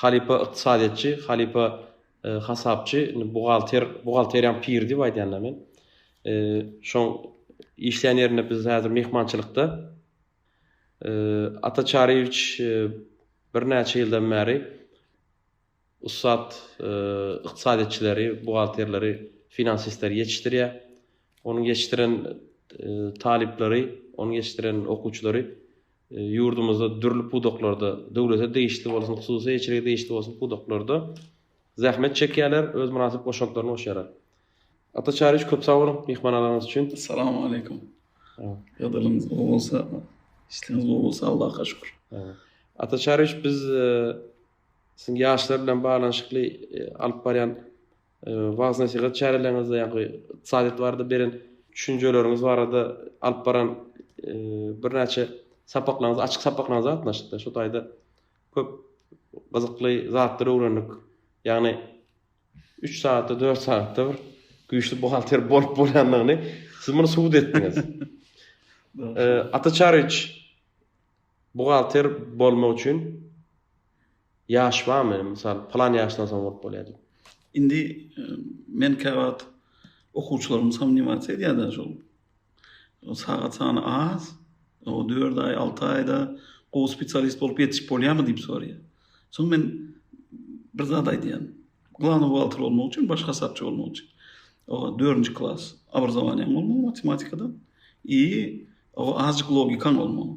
Halypa ykdysadyýetçi, halypa hasapçy, indi buhgalter, buhgalteriýaň piri diýip aýdýan-da men. Şoň işleýän ýerinde biz häzir myhmançylykda. Ata Çaryýewiç birnäçe ýyldan bäri ussat ykdysadyýetçileri, buhgalterleri, finansistleri ýetişdirýär. Onuň ýetişdiren talyplary, onuň ýetişdiren okuwçylary ýurdumyzda dürli pudaklarda, döwlete degişli bolsun, hususy eýeçilige degişli bolsun pudaklarda zähmet çekýärler, öz mynasyp goşantlaryny goşýarlar. Ata Çaryýewiç köp sag boluň myhmanalaryňyz üçin. Assalamu aleykum. Ýagdaýlaryňyz gowy bolsa, işleriňiz gowy bolsa Allaha şükür. Ata Çaryýewiç biz e, siziň ýaşlar bilen baglanyşykly e, alyp barýan wagyz-nesihat çäreleriňizde ýa-da ykdysadyýet barada beren düşünjeleriňiz barada alyp baran birnäçe sapaklaryňyz, açyk sapaklaryňyza gatnaşyp, şu taýda köp gyzykly zatlary öwrendik. Ýagny 3 sagatda, 4 sagatda bir güýçli buhgalter bolup bolýandygyny siz muny subut etdiňiz. Ata Çaryç buhgalter bolmak üçin Ýaş barmy, mysal, pylan ýaşdan soň bolup bolýar diýip. Indi men käwagt okuwçylarym somniwatsia edýärler şol. Sagat sany az, o dört aý, alty aýda gowy spesialist bolup ýetişip bolýarmy diýip soraýar. Soň men bir zat aýdýan. Glawnoý buhgalter bolmak üçin, baş hasapçy bolmak üçin o dördünji klas obrazowaniýaň bolmaly matematikadan i o azjyk logikaň bolmaly.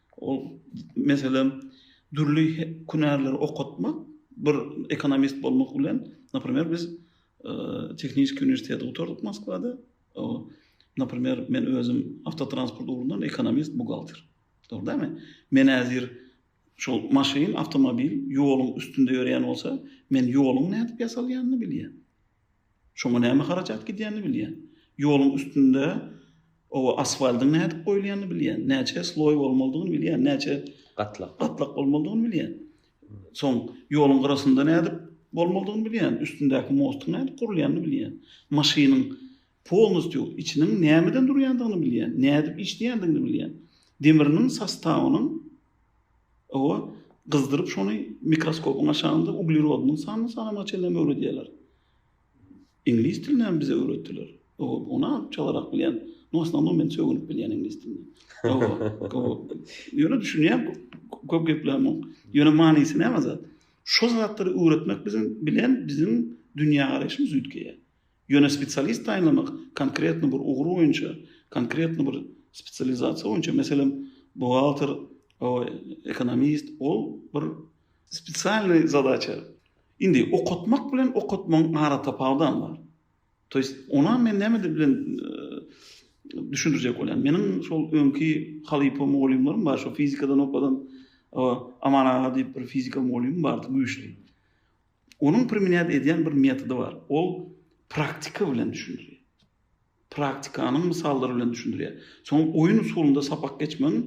Ol, meselem, dürli hünärleri okatmak, bir ekonomist bolmak bilen, naprimer, biz Tehnikiýa uniwersiteti gutardyk Moskwada. Naprimer, men özüm awtotransport ugrundan ekonomist, buhgalter. Dogry dälmi? Men häzir şol maşyn, awtomobil ýoluň üstünde ýöreýän bolsa, men ýoluň nädip ýasalýanyny bilýän. Şoňa näme harajat gidýänini bilýän. Ýoluň üstünde oba asfaltyň nädip goýulýanyny bilýän. Näçe sloý bolmalydygyny bilýän. Näçe gatlak gatlak bolmalydygyny bilýän. Soň ýoluň gyrasynda nädip bolmalydygyny bilýän. Üstündäki mostyň nädip gurulýanyny bilýän. Maşynyň Polnusty içiniň nämeden durýandygyny bilýän, nädip işleýändigini bilýän. Demiriniň sostawynyň oba gyzdyryp şony mikroskopyň aşagynda uglerodynyň sanyny sanamagy çenlem öwredýärler. Iňlis dilinem bize öwretdiler. Oba ony alyp çalarak bilýän. No osnownam men sögünip bilýän iňlis dilini. Ýöne düşünýän köp geplämok. yok. Ýöne manysy näme zat? Şo zatlary öwretmek biziň bilen biziň dünýä garaýşymyz üýtgeýär. Ýöne spesialist taýynlamak konkretno bir ugur boýunça, konkretno bir spesializasiýa boýunça, meselem, buhgalter, ekonomist, ol bir spesialnyý zadaça. Indi okatmak bilen okatmagyň aratapawudam bar. To ýest, onam men näme bilen düşündirjek bolýan. Meniň şol öňki halypa mugallymlarym bar, şo fizikadan okadan Aman aga diýip bir fizika mugallymym bardy, güýçli. Onuň primenýat edýän bir metody bar. Ol praktika bilen düşündirýär. Praktikanyň mysallary bilen düşündirýär. Soň oýun usulynda sapak geçmegiň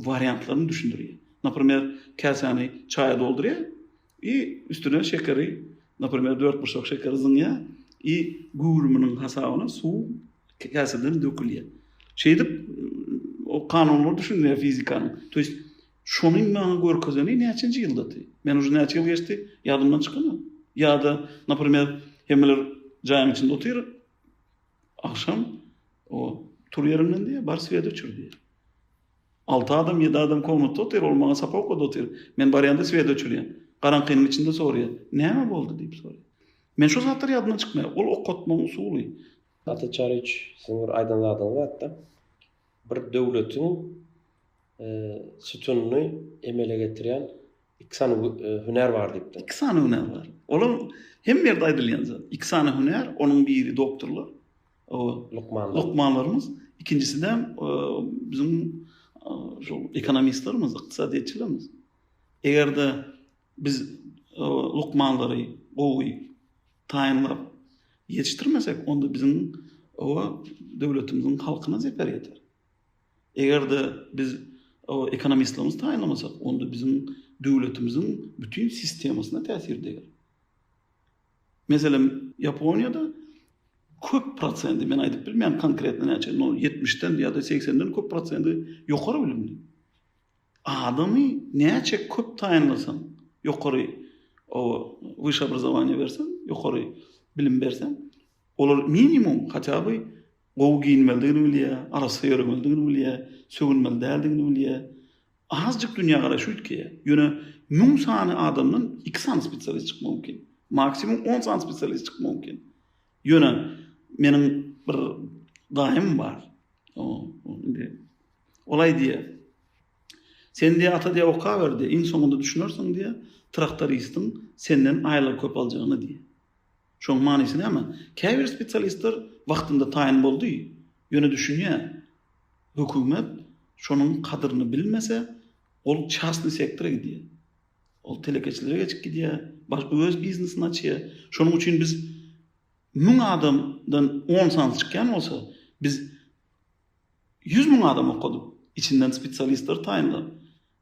wariantlaryny düşündirýär. Naprimer, käsäni çaýa doldurýar i üstüne şekeri, naprimer, dörtburçak şekeri zyňýar i göwrüminiň hasabyna suw käseden dökülýär. Şeýdip, o kanunlary düşündirýär fizikanyň. To ýest Şonuň maňa görkezeni näçenji ýyldydy? Men uje näçe ýyl geçdi, ýadymdan çykanok. Ýa-da, naprimer, hemmeler jaýyň içinde otyr, agşam, o, tur ýeriňden diýýär, bar swedi öçür diýýär. Alty adam, ýedi adam komnatda otyr, ol maňa sapa okady otyr. Men barýanda swedi öçürýän. Garaňkynyň içinde soraýar, Näme boldy? diýip soraýar. Men şo zatlar ýadymdan çykmaýar. Ol okatmagyň usuly. Ata Çariç, siziň bir aýdan zadyňyz bar-da, bir döwletiň sütüni emele getirýän iki sany hünär bar diýipdir. Iki sany hünär bar. Olam hemme ýerde aýdylýan zat. Iki sany hünär, onuň biri doktorlar, lukmanlar. Lukmanlarymyz, ikinjisi-de biziň şol ekonomistlerimiz, ykdysadyýetçilerimiz. Eger-de biz lukmanlary gowy taýynlap ýetişdirmesek, onda biziň döwletimiziň halkyna zeper ýeter. Eger-de biz ekonomistlerimizi taýynlamasak, onda biziň döwletimiziň bütin sistemasyna täsir deger. Meselem, Ýaponiýada köp prosendi, men aýdyp bilmeýän konkretno näçe, no, ýetmişden ýa-da segsenden köp prosendi ýokary bilimli. Adamy näçe köp taýynlasaň, ýokary oba, wyşşe obrazowaniýe berseň, ýokary bilim berseň, olar minimum, hatýa by, Gowy geýinmelidigini bilýär, arassa ýöremelidigini bilýär, sögünmeli däldigini bilýär. Azjyk dünýägaraşy üýtgeýär. Ýöne müň sany adamdan iki sany spesialist çykmak mümkin. Maksimum on sany spesialist çykmak mümkin. Ýöne meniň bir daýym bar. Indi ol aýdýar. Sen diýýär, ata diýýär, okaber diýýär, iň soňunda düşünersiň diýýär, traktoristiň senden aýlygy köp aljagyny diýýär. Şoň manysy näme? Käbir spesialistler wagtynda taýyn boldy, ýöne düşünýä, hökümet şonuň kadyryny bilmese, ol çastny sektora gidýä. Ol telekeçilere geçip gidýä, baş öz biznesini açýa. Şonuň üçin biz müň adamdan on sany çykýan bolsa, biz ýüz müň adam okadyp, içinden spesialistleri taýynlap,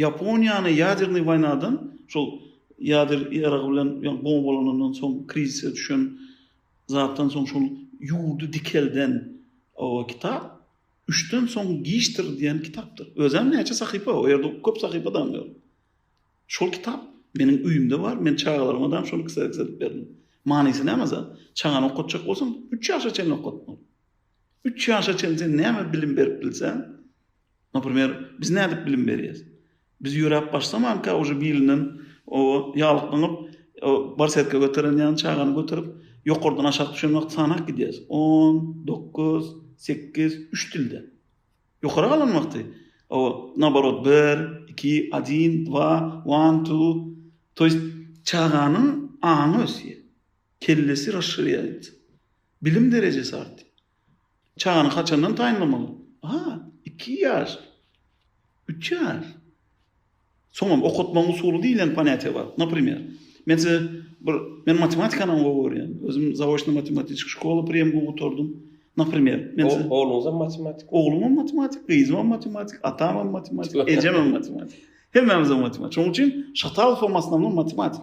Ýaponiýany ýadernyý waýnadan, şol ýader ýaragy bilen ýa bombalanandan soň krizise düşen zatdan soň şol ýurdy dikelden o kitap Üçden soň giçdir diýen kitapdyr. Özem näçe sahypa, o ýerde köp sahypa dam ýok. Şol kitap meniň öýümde bar, men çagalaryma dam şony kserks edip berdim. Manysy näme zat? Çagany okatjak bolsaň, üç ýaşa çenli okatmaly. Üç ýaşa çenli sen näme bilim berip bilseň, Naprimer, biz nädip bilim berýäs? Biz ýöräp başlamanka uje bilinden oba ýalyklanyp, barsetga göteren ýaly çagany göterip, ýokardan aşak düşen wagty sanap gidýäs. On, dokuz, sekiz, üç dilde. Ýokary galan wagty oba naborot bir, iki, adin, dva, one, two. To ýest çaganyň aňy ösýär. Kellesi raşşirýaýt. Bilim derejesi artýar. Çagany haçandan taýynlamaly? Aha, iki ýaş, üç ýaş. Soňam okatmagyň usuly diýlen ponýatiýa bar. Naprimer, men size bir, men matematikany gowy görýän. Özüm zaoçny matematiçki şkola priýemgi gutardym. Naprimer, men size... Ogluňyzam matematik? Oglumam matematik, gyzymam matematik, atamam matematik, ejemem matematik. Hemmämizem matematik. Şonuň üçin Şatalow hem aslamdan matematik.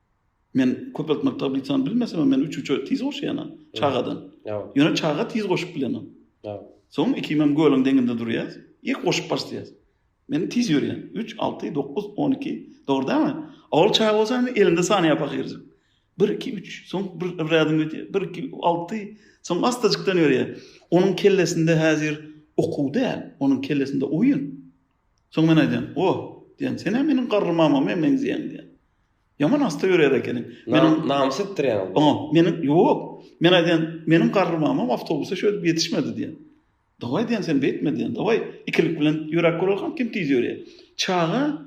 Men köpeltmek tablisany bilmesemem men üç üçe tiz goşýanam çagadan. Ýöne çaga tiz goşup bilenok. Soň ikimem gölüň deňinde durýas. Ilk goşup başlaýas. Men tiz ýörýän. Üç, alty, dokuz, on iki. Dogry dälmi? Ol çaga bolsa indi elinde saniýa pahyryjyk. Bir, iki, üç. Soň bir bir ädim gidýär. Bir, iki, alty. Soň astajykdan ýörýär. Onuň kellesinde häzir okuw däl. Onuň kellesinde oýun. Soň men aýdýan, O, diýýän, sen-ä meniň garry mamama meňzeýäň diýýän. Ýaman assa ýörär ekeniň. Meniň namys etdirýäňiz bu. Oňa, meniň, ýok. Men aýdýan, meniň garry mamam awtobusa şöýdüp ýetişmedi diýýän. Dawaý diýýän, sen beýtme diýýän, dawaý, ikilik bilen ýöräp göreliň, kim tiz ýörýär. Çaga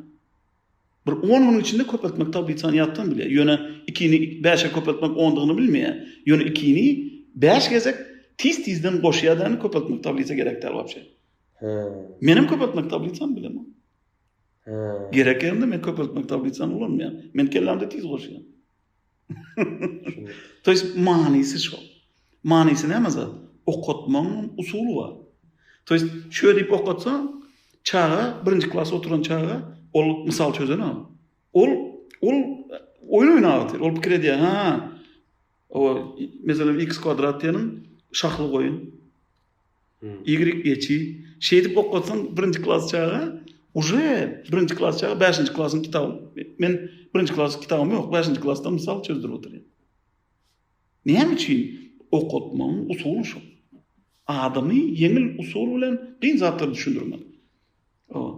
bir on günüň içinde köpeltmek tablisany ýatdan bilýär. Ýöne ikini bäşe köpeltmek ondygyny bilmeýär. Ýöne ikini bäş gezek tiz-tizden goşýar däl köpeltmek tablisa gerek däl wapşe. Menem köpeltmek tablisany bilemok. Gerek ýerinde men köpeltmek tablisany ulanmaýan. Men kellämde tiz goşýan. To ýes manysy şo. Manysy näme zat? Okatmaň usuly bar. To ýes şo diýip okatsa, çaga birinji klas oturan çaga ol mysal çözen ol. Ol ol oýun oýnaýar. Ol pikir edýär, ha. O meselem x kwadrat diýeniň şahly goýun. Y geçi. Şeýdip okatsaň birinji klas çaga uje birinji klas çaga 5-nji klasyň kitaby. Men birinji klas kitabym ýok, 5-nji klasda mysal çözdürip otyryn. Näme üçin okatmagyň usuly şu. Adamy ýeňil usul bilen giň zatlar düşündirmek. Ol.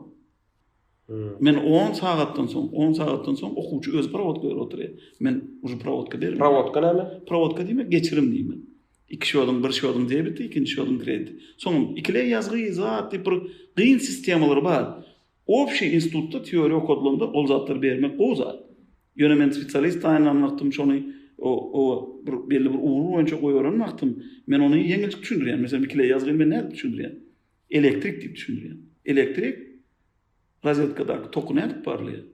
Men on sagatdan soň, on sagatdan soň okuwçy öz prowodka berip oturýar. Men uju prowodka berip. Prowodka näme? Prowodka diýmek geçirim diýmek. İki şodun, bir şodun debiti, ikinci şodun krediti. Soňam ikile ýazgy, zat diýip bir gyn sistemalary bar. Obşi institutda teoriýa okadylanda ol zatlary bermek gowy zat. Ýöne men spesialist taýynlan wagtym şony o o bir belli bir ugur boýunça goýberin wagtym men ony ýeňilçik düşündirýän. Meselem ikile ýazgy men nädip düşündirýän? Elektrik diýip düşündirýän. Elektrik rozetkadaky toky nädip barlaýar?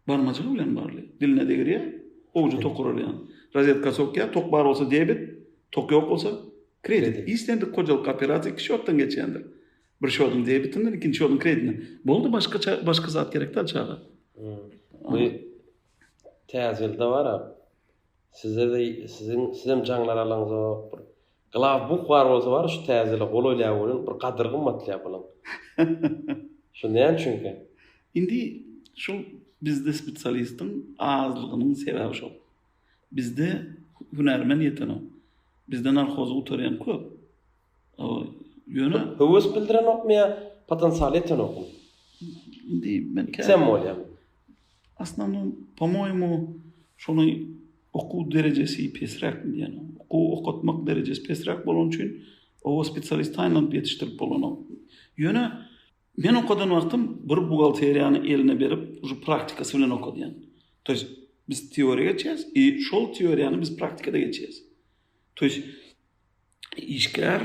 Barmajygy bilen barlaýar. Diline degirýär, owjy tok urar ýaly. Rozetka sokýar, tok bar bolsa debit, tok ýok bolsa kredit. Islendik hojalyk operasiýa iki şotdan geçýändir. Bir şodyň debitinden, ikinji şodyň kreditinden. Boldy, başgaça başga zat gerek däl çaga. Bu täze ýylda bar-a, Size de siziň sizem jaňlar alaňzok bir glaw buh bar bolsa bar şu täzele gol oýlap görüň bir gadyr gymmatlyap bulaň. Şu näme üçinkä? Indi şul bizde spesialistiň azlygynyň sebäbi şol. Bizde hünärmen ýetenok. Bizde narhozy gutarýan köp. Ýöne höwes bildirenokmy ýa potensial ýetenokmy? Indi men käte bolýa. Aslynda, po-moýemu, şonuň okuw derejesi pesräk diýýän. Okuw okatmak derejesi pesräk bolany üçin oba spesialist taýynlanyp ýetişdirip bolanok. Ýöne men okadan wagtym bir buhgalteriýany eline berip, şu praktikasy bilen okadýan. To ýest biz teoriýa geçýäs i şol teoriýany biz praktikada geçýäs. To ýest işgär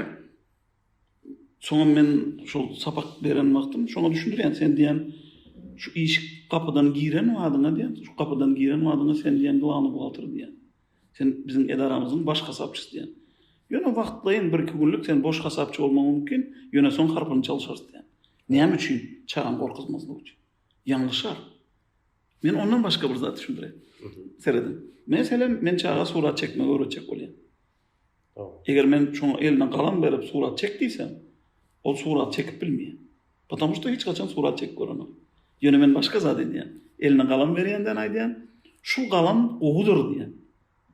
Soňa men şol sapak beren wagtym şoňa düşündirýän sen diýen şu iş gapydan giren wadyňa diýen şu gapydan giren wadyňa sen diýen glawny buhgalter diýen. Sen biziň edaramyzyň baş hasapçysy diýen. Ýöne wagtlaýyn bir iki günlük sen boş hasapçy bolmaň mümkin, ýöne soň harpyny çalyşarys diýen. Näme üçin? Çagam gorkuzmazlyk üçin. Ýalňyşar. Men ondan başga bir zat düşündirýän. Serediň. Meselem, men çaga surat çekmegi öwretjek bolýan. Eger men şoňa eline galam berip surat çek diýsem, ol surat çekip bilmeýär. Потому что hiç haçan surat çekip görenok. Ýöne men başga zat edýän. Eline galam berýänden aýdýan, şul galam gowudyr diýän.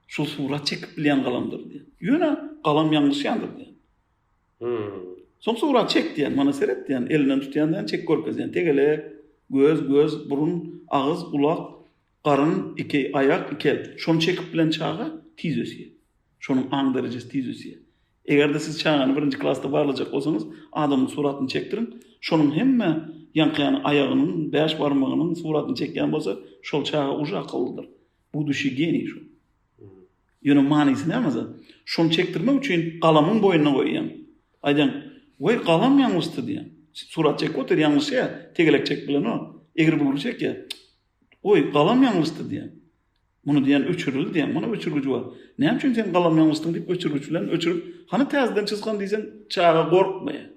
Şul surat çekip bilýän galamdyr diýän. Ýöne galam ýalňyşýandyr diýän. Hmm. Soň surat çek diýän, mana seret diýän, elinden tutýan diýän, çek görkezýän. Tegelek, göz, göz, burun, agyz, gulak, Garyn, iki aýak, iki el. Şony çekip bilen çaga tiz ösýär. Şonuň aň derejesi tiz ösýär. Eger-de siz çagany birinji klasda barlajak bolsaňyz, adamyň suratyny çekdiriň. Şonuň hemme ýaňkyýany aýagynyň, bäş barmagynyň suratyny çekýän bolsa, şol çaga uje akyllydyr. Budushi geniý şol. Ýöne manysy näme za? Şony çekdirmek üçin galamyň boýnuna goýýaň. Aýdýaň, Weý, galam ýalňyşdy diýýäň. Surat çekip otyr, ýalňyşýar. Tegelek çekip bilenok. Egri-bugry çekýär. Goý, galam ýalňyşdy diýeň. Muny diýen öçürildi diýeň. Muny öçürgiji bar. Näme üçin sen galam ýalňyşdyň diýip öçürgiç bilen öçürip, hany täzeden çyzgyn diýseň, çaga gorkmaýar.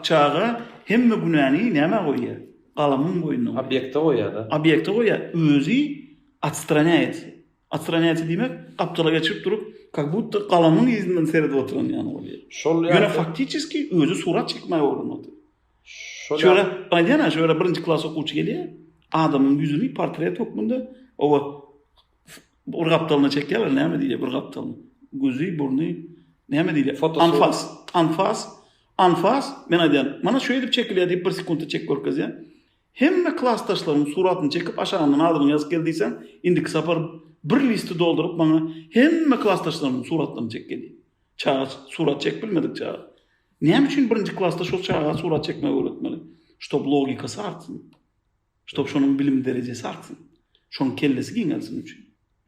Çaga hemme günäni nämä goýýar? Galamyň boýnuna goýýar. Obýekte goýýar-da. Obýekte goýýar. Özi otstranýaýt. Otstranýaýt diýmek, gapdala geçirip durup, kak butda galamyň yzyndan seredip oturan ýaly bolýar. Şol ýa. Ýöne faktiçeski özi surat çekmäge ugranyp otyr. Şöyle aýdýan-a, şöyle birinji klas okuwçy gelýär, adamyň ýüzüni portret hökmünde oba bir gapdalyna çekýärler, näme diýýär bir gapdalyna? Gözi, burny, näme diýýär? Anfas, anfas, anfas. Men aýdýan, mana şu edip çekilýär diýip bir sekuntda çekip görkezýär. Hemme klasdaşlaryň suratyny çekip aşagyndan adyny ýazyp gel diýseň, indiki sapar bir listi dolduryp maňa hemme klasdaşlaryň suratlaryny çek gelýär. Çaga surat çekip bilmedik çaga. Näme üçin birinji klasda şol çaga surat çekmegi öwretmeli? Ştob logikasy artsyn. Ştob şonuň bilim derejesi artsyn. Şonuň kellesi giňelsin üçin.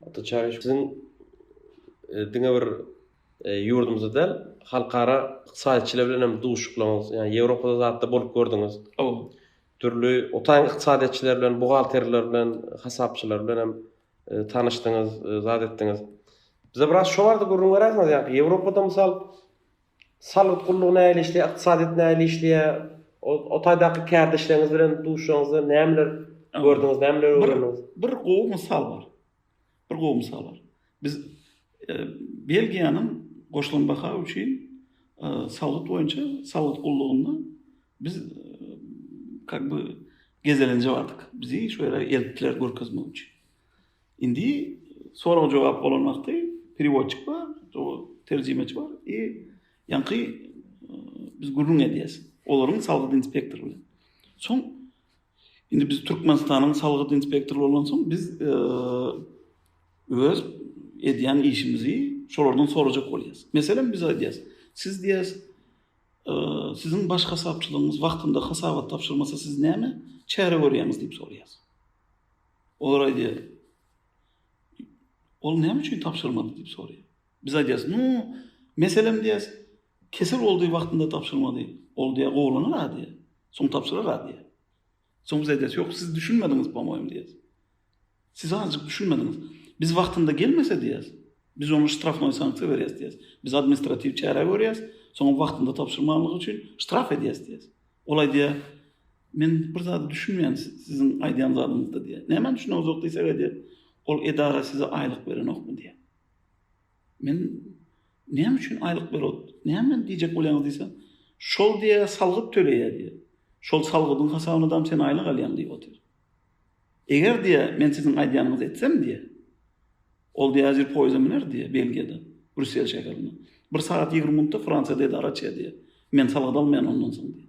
Ata çaga siziň e, diňe bir e, ýurdumyzda däl, halkara ykdysadyýetçiler bilen hem duşuklaryňyz, ýa Ýewropada zatda bolup gördüňiz. Ow. Dürli otaň ykdysadyýetçiler bilen, buhgalterler bilen, hasapçylar bilen hem tanyşdyňyz, zat etdiňiz. Bize biraz şo barada gürrüň beräýseňiz, ýa Ýewropada mysal salgyt gullugy nähili işleýär, ykdysadyýet nähili işleýär, o taýdaky kärdeşleriňiz bilen duşuşanyňyzda nämeler gördüňiz, nämeler öwrendiňiz? Bir gowy mysal bar. Bir gowy mysal bar. Biz Belgiýanyň goşulan baha üçin salgyt boýunça salgyt gullugynda biz kak by gezelenje bardyk. Bizi şu ýere eltdiler görkezmek üçin. Indi sorag-jogap bolan wagty periwodçik bar, terjimeçi bar i ýaňky biz gürrüň edýäs. Olaryň salgyt inspektory bilen. Soň Indi biz Türkmenistanyň salgyt inspektory bolansoň biz öz edýän işimizi şolardan sorajak bolýas. Meselem biz aýdýas, siz diýäs siziň baş hasapçylygyňyz wagtynda hasabat tabşyrmasa siz näme çäre görýäňiz diýip sorýas. Olar aýdýar, ol näme üçin tabşyrmady diýip sorýar. Biz aýdýarys, Nu, meselem diýýäs, kesel boldy, wagtynda tabşyrmady. Ol diýýär, Gowulanar-a diýýär. Soň tabşyrar-a diýýär. Soň biz aýdýarys, Ýok, siz düşünmediňiz, pomoýim diýýäs. Siz azajyk düşünmediňiz. Biz wagtynda gelmese diýýäs, biz oňa ştrafnoý sanksiýa berýäs diýýäs. Biz administratiw çäre görýäs, soňam wagtynda tabşyrmanlygy üçin ştraf edýäs diýýäs. Ol aýdýar, Men bir zada düşünmeýän siziň aýdýan zadyňyzda diýýär. Nämä düşüneňizok diýsek aýdýar, Ol edara size aýlyk berenokmy diýýär. Men näme üçin aýlyk berot? Näme men diýjek bolýaňyz diýse, şol diýe salgyt töleýä diýe. Şol salgydyň hasabyna dam sen aýlyk alýaň diýip otyr. Eger diýe men siziň aýdýanyňyzy etsem diýe. Ol diýe ajyr poýza müner diýe Belgiýada, Brüssel şäherinde. Bir sagat 20 minutda Fransiýada edara çe diýe. Men salgyt almaýan ondan soň diýe.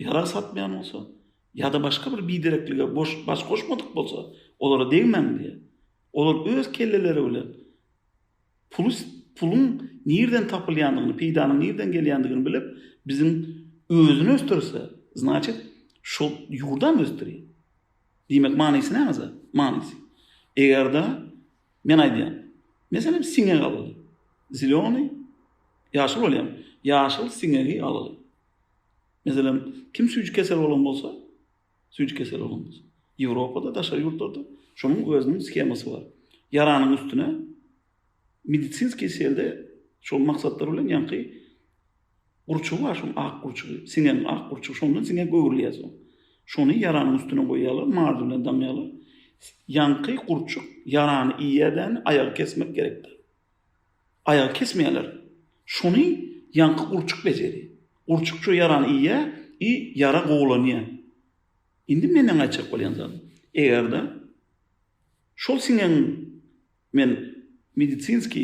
ýarag satmaýan bolsa ýa-da başga bir bidereklige baş goşmadyk bolsa, olara degmäň diýýär. Olar öz kelleleri bilen puly, puluň nireden tapylýandygyny, peýdanyň nireden gelýändigini bilip, biziň özüni ösdürse, znaçit, şol ýurdam ösdürýär. Diýmek, manysy nämeje? Manysy, eger-de, men aýdýan, meselem, siňek alyly. Zeleniý, ýaşyl bolýamy? Ýaşyl siňegi alyly. Meselem, kim süýji kesel bolan bolsa, süýji kesel bolan bolsa, Ýewropada, daşary ýurtlarda şonuň özüniň skemasy bar. Ýaranyň üstüne medisinskiý selde şol maksatlar bilen ýaňky gurçugy bar, şoň ak gurçugy, siňen ak gurçugy, şoň bilen siňe göwrülýär soň. Şony ýaranyň üstüne goýýarlar, mardy bilen daňýarlar. Ýaňky gurçuk ýarany iýýär däni, aýagy kesmek gerekdir. Aýagy kesmeýärler. Şony ýaňky gurçuk bejeri. Gurçuk ço ýarany iýýä i ýara gowulanýa. Indi meneň aýtjak bolýan zadym. Eger-de şol siňegiň men medisinski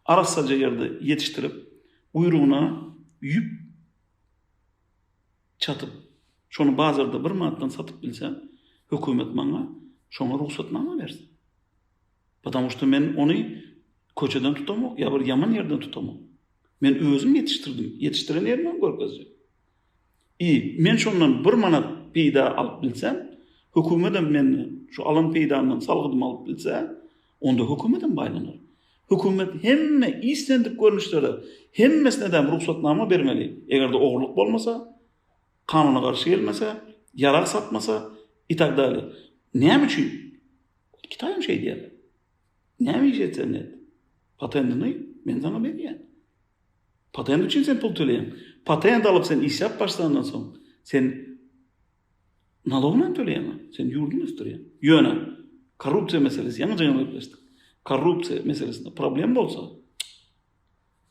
arassaja ýerde ýetişdirip, guýrugyna ýüp çatyp, şony bazarda bir manatdan satyp bilsem, hökümet maňa şoňa rugsatnama bersin. Потому što men ony köçeden tutamok ýa bir ýaman ýerden tutamok. Men özüm ýetişdirdim, ýetişdiren ýerimi hem görkezjek. I men şondan bir manat peýda alyp bilsem, hökümetem menden şu alan peýdamdan salgydymy alyp bilse, onda hökümetem baýlanar. Hökümet hemme islendik görnüşlere hemmesine däm rugsatnama bermeli, eger-de ogurlyk bolmasa. kanuna garşy gelmese, ýarag satmasa i tak dalýe. Näme üçin? Kitaý hem şeý diýýär. Näme iş etseň et. Patendini men saňa berýän. Patend üçin sen pul töleýäň. Patend alyp sen işläp başlandan soň sen nalogyny hem töleýäň. Sen ýurduňy ösdürýäň. Ýöne korrupsiýa meselesi ýaňy jyňyň gepleşdik. Korrupsiýa meselesinde problem bolsa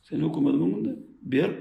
sen hökümetiň öňünde berk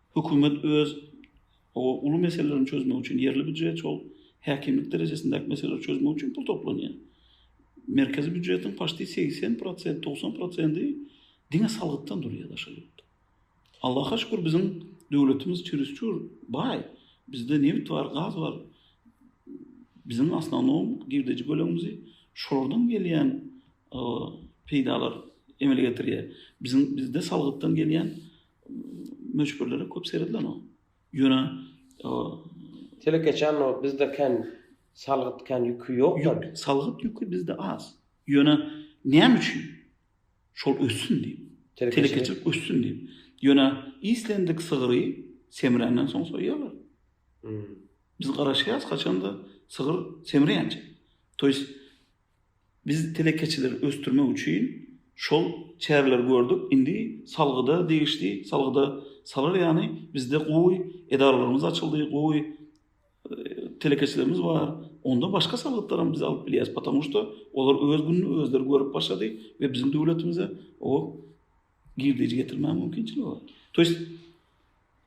Hökümet öz o uly meselelerini çözmek üçin ýerli býujet şol häkimlik derejesindäki meseleleri çözmek üçin pul toplanýar. Merkezi býujetiň paşti segsen prosent, togsan prosendi diňe salgytdan durýar daşary ýurtda. Allaha şükür biziň döwletimiz çürisçür baý. Bizde nebit bar, gaz bar. Biziň asnanom girdeji bölegimizi şolardan gelýän peýdalar emele getirýär. Biziň bizde salgytdan gelýän Möçberlere köp seredilen o. Ýöne o telekeçän o bizde kän salgyt kän ýüki ýokda. Salgyt ýüki bizde az. Ýöne näme üçin? Şol össün diýip. Telekeçilik össün diýip. Ýöne islendik sygry semränden soň soýýarlar. Hmm. Biz garaşýarys haçanda sygyr semreýänçä. Toýs Biz telekeçileri ösdürmek üçin şol çäreleri gördük, indi salgyda degişli salgyda salar ýaly bizde gowy edaralarymyz açyldy, gowy telekeçilerimiz bar, onda başga salgytlary hem biz alyp bilýäris, patamu şda olar öz gününi özleri görüp başlady we biziň döwletimize o girdeji getirmäge mümkinçiligi bar. To ýest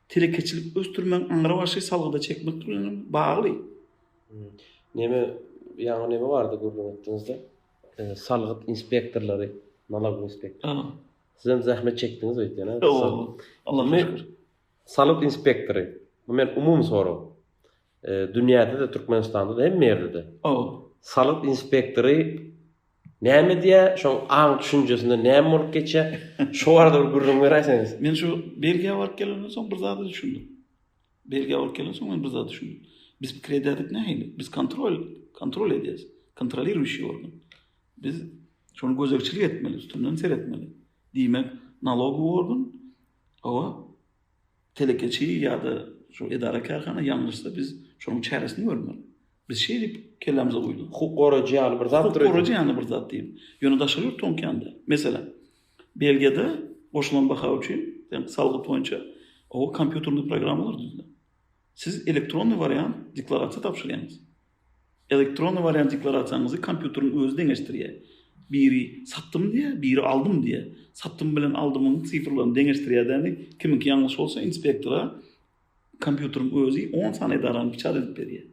telekeçilik ösdürmegiň aňry başy salgyda çekmek bilen hem bagly. Neme ýaňy neme bardy gürrüň etdiňizde? Salgyt inspektorlary, nalag inspektor. Siz hem zähmet çekdiňiz öýtýän. Allah'a şükür. Salgyt inspektory. Bu men umumy sorag. Dünýäde-de, Türkmenistanda-da, hemme ýerde-de. Salgyt inspektory Näme diýýär, şoň aň düşünjesinde näme bolup geçýär? Şo barada bir gürrüň beräýseňiz. Men şu Belgiýa baryp gelenden soň bir zada düşündim. Belgiýa baryp gelen soň men bir zada düşündim. Biz pikir edýärdik nähili? Biz kontrol, kontrol edýäris. Kontroliruýşi organ. Biz şony gözegçilik etmeli, üstünden seretmeli. Diýmek, nalogowy organ, hawa, Telekeçi ýa-da şol edara-kärhana ýalňyşsa, biz şonuň çäresini görmeli. Biz şeý diýip kellämize guýduk. Hukuk goraýjy ýaly bir zatdyr. Hukuk goraýjy ýaly bir zat diýip. Ýöne daşary ýurt toňkýanda, meselem, Belgiýada goşulan baha üçin sen salgyt boýunça oba kompýuterli programmalar düzülen. Siz elektronnyý wariant deklarasiýa tabşyrýaňyz. Elektronny wariant deklarasiýaňyzy kompýuteriň özi deňeşdirýär. Biri satdym diýýär, biri aldym diýýär. Satdym bilen aldymyň sifrlaryny deňeşdirýädämi, kimiňki ýalňyş bolsa inspektora kompýuteriň özi on sany edarany biçar edip berýär.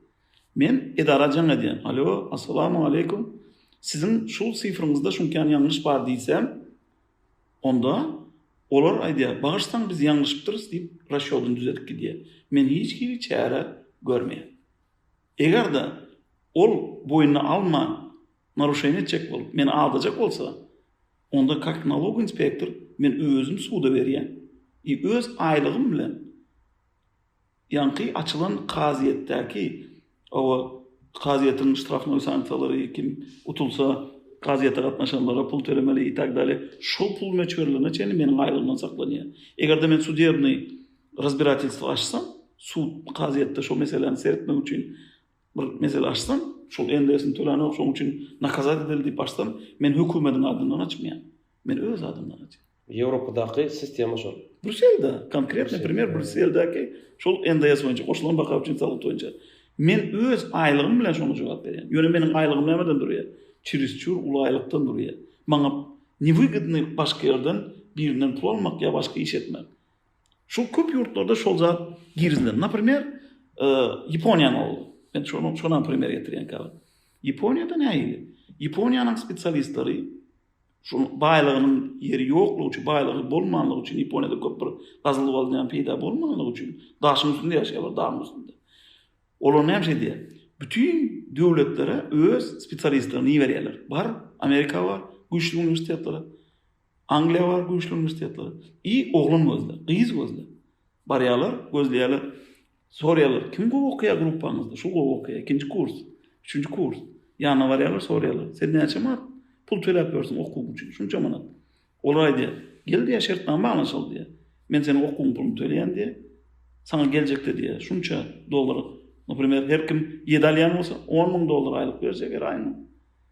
Men edara jaň edýän, Alo, assalamu aleýkum, siziň şu sifriňizde şuňkany ýalňyş bar diýsem, onda olar aýdýar, Bagyşsaň biz ýalňyşypdyrys diýip, rasýodyny düzedip gidýär. Men hiç hili çäre görmeýän. Eger-de ol boýnuna alman, naruşeniýe etjek bolup, meni aldajak bolsa, onda kak nalog inspektor men özüm suda berýän i öz aýlygym bilen ýaňky açylan kazyýetdäki, hawa, kazyýetiň ştrafnoý sanksiýalary kim utulsa, kazyýete gatnaşanlara pul tölemeli i tak dalýa, şol pul möçberlerine çenli meniň aýlygymdan saklanýar. Eger-de men sudebnyý. Razbiratelstwo açsaň, sud, kazyýetde şo meseläni seretmek üçin bir mesele açsaň, şol NDS-ni töläňok, şoň üçin nakazat edildi diýip açsaň, men hökümediň adyndan açmaýan. Men öz adymdan açýan. Ýewropadaky sistema şol. Bruselde, konkretno premýer Bruseldäki şol NDS boýunça, goşulan baka üçin salgyt boýunça. Men öz aýlygym bilen şoňa jogap berýän. Ýöne meniň aýlygym nämeden durýar? Çirisçur uly aýlykdan durýar. Maňa newygodny başga ýerden birinden pul almak ýa başga iş etmek. Şu köp ýurtlarda şol zat girizilen. Naprimer, e, Ýaponiýa boldy. Men şonu şona primer getirýän käbir. Ýaponiýada näýdi? Ýaponiýanyň spesialistleri şu baýlygynyň ýeri ýoklugy üçin, baýlygy bolmanlygy üçin Ýaponiýada köp bir gazyl bolýan peýda bolmanlygy üçin daşyň üstünde ýaşaýarlar, dagyň üstünde. Olar näme şey diýýär? Bütün döwletlere öz spesialistlerini berýärler. Bar, Amerika bar, güýçli uniwersitetler. Angliýa bar güýçli uniwersitetler. I oglan gözle, gyz gözle. Barýarlar, gözleýärler. Soraýarlar, kim gowy okaýar gruppaňyzda? Şu gowy okaýar, ikinji kurs, üçünji kurs. Ýanyna barýarlar, soraýarlar, sen näçe manat pul töläp ýörsüň okuwyň üçin? Şunça manat. Olar aýdýar, gel diýýär, şertnama baglaşaly diýýär. Men seniň okuwyň puluny töleýän diýýär. Saňa geljekde diýýär, şunça dollar, naprimer, her kim ýedi alýan bolsa, on müň dollar aýlyk berjek her aýyna.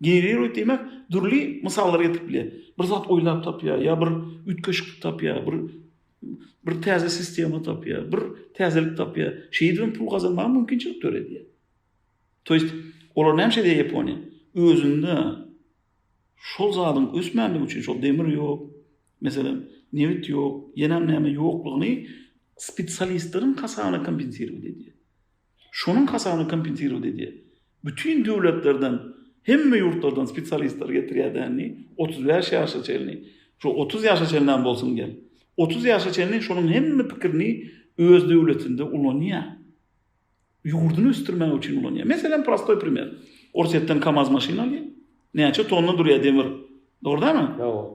Generoid diýmek dürli mysallar getirip bilýär. Bir zat oýlap tapýar, ýa bir üýtgeşiklik tapýar, bir bir täze sistema tapýar, bir täzelik tapýar. Şeýdip hem pul gazanmaga mümkinçilik döredýär. To ýest olar näme şeýle Ýaponiýa? Özünde şol zadyň ösmänligi üçin şol demir ýok, meselem, nebit ýok, ýene näme ýoklugyny spesialistleriň hasabyna kompensirowat edýär. şonuň hasabyna kompensirowat edýär. Bütin döwletlerden, hemme ýurtlardan spesialistleri getirýär dändi, otuz bäş ýaşa çenli, şu otuz ýaşa çenlem bolsun gel. Otuz ýaşa çenli şonuň hemme pikirini öz döwletinde ulanýar. Ýurduny ösdürmek üçin ulanýar. Meselem, prostoý primer. Orsýetden kamaz maşyn alýar. Näçe tonna durýar demir. Dogrudanam?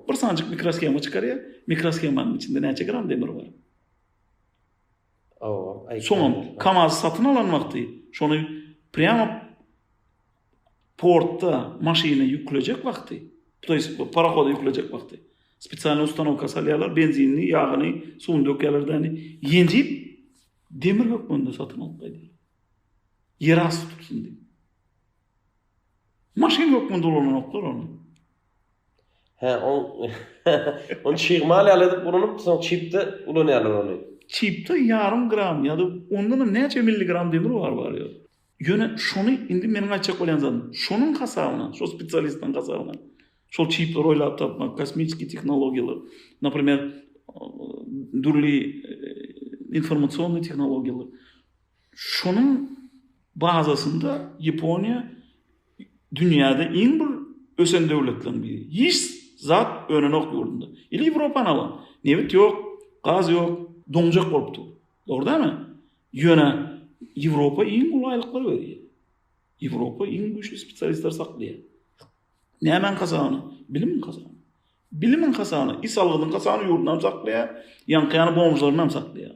Bir sanjyk mikroshema çykarýar. Mikroshemanyň içinde näçe gram demir bar? Soňam Kamaz satyn alan wagty şony prýamo portda maşyna ýüklejek wagty, to ýest parohoda ýüklejek wagty spesialnyý ustanowka salýarlar, benzinini, ýagyny, suwuny dökýärler däni, ýenjip demir hökmünde satyn alyp gaýdýarlar. Ýerasty tutsun diýip. Maşyn hökmünde ulananoklar ony. Hä, on ony çigmal ýaly edip ulanyp, soň çipde ulanýarlar ony. Çipde ýarym gram ýa-da ondanam näçe milligram demir bar barýar. Ýöne şony indi meniň aýtjak bolýan zadym, şonuň hasabyna, şo spesialistiň hasabyna şol çipleri oýlap tapmak, kosmisiki tehnologiýalar, naprimer, dürli informasionnyý tehnologiýalar, Şonuň bazasynda Ýaponiýa dünýäde iň bir ösen döwletleriň biri. Hiç zat önenok ýurdunda. Ýyly Ýewropany alaň. Nebit ýok, gaz ýok, doňjak bolup dur. Dogry dälmi? Ýöne Ýewropa iň uly aýlyklary berýär. Ýewropa iň güýçli spesialistleri saklaýar. Nämäň hasabyna? Bilimiň hasabyna. Bilimiň hasabyna, is algynyň hasabyna ýurdunam saklaýar, ýaňky ýaly bomžlaryny hem saklaýar.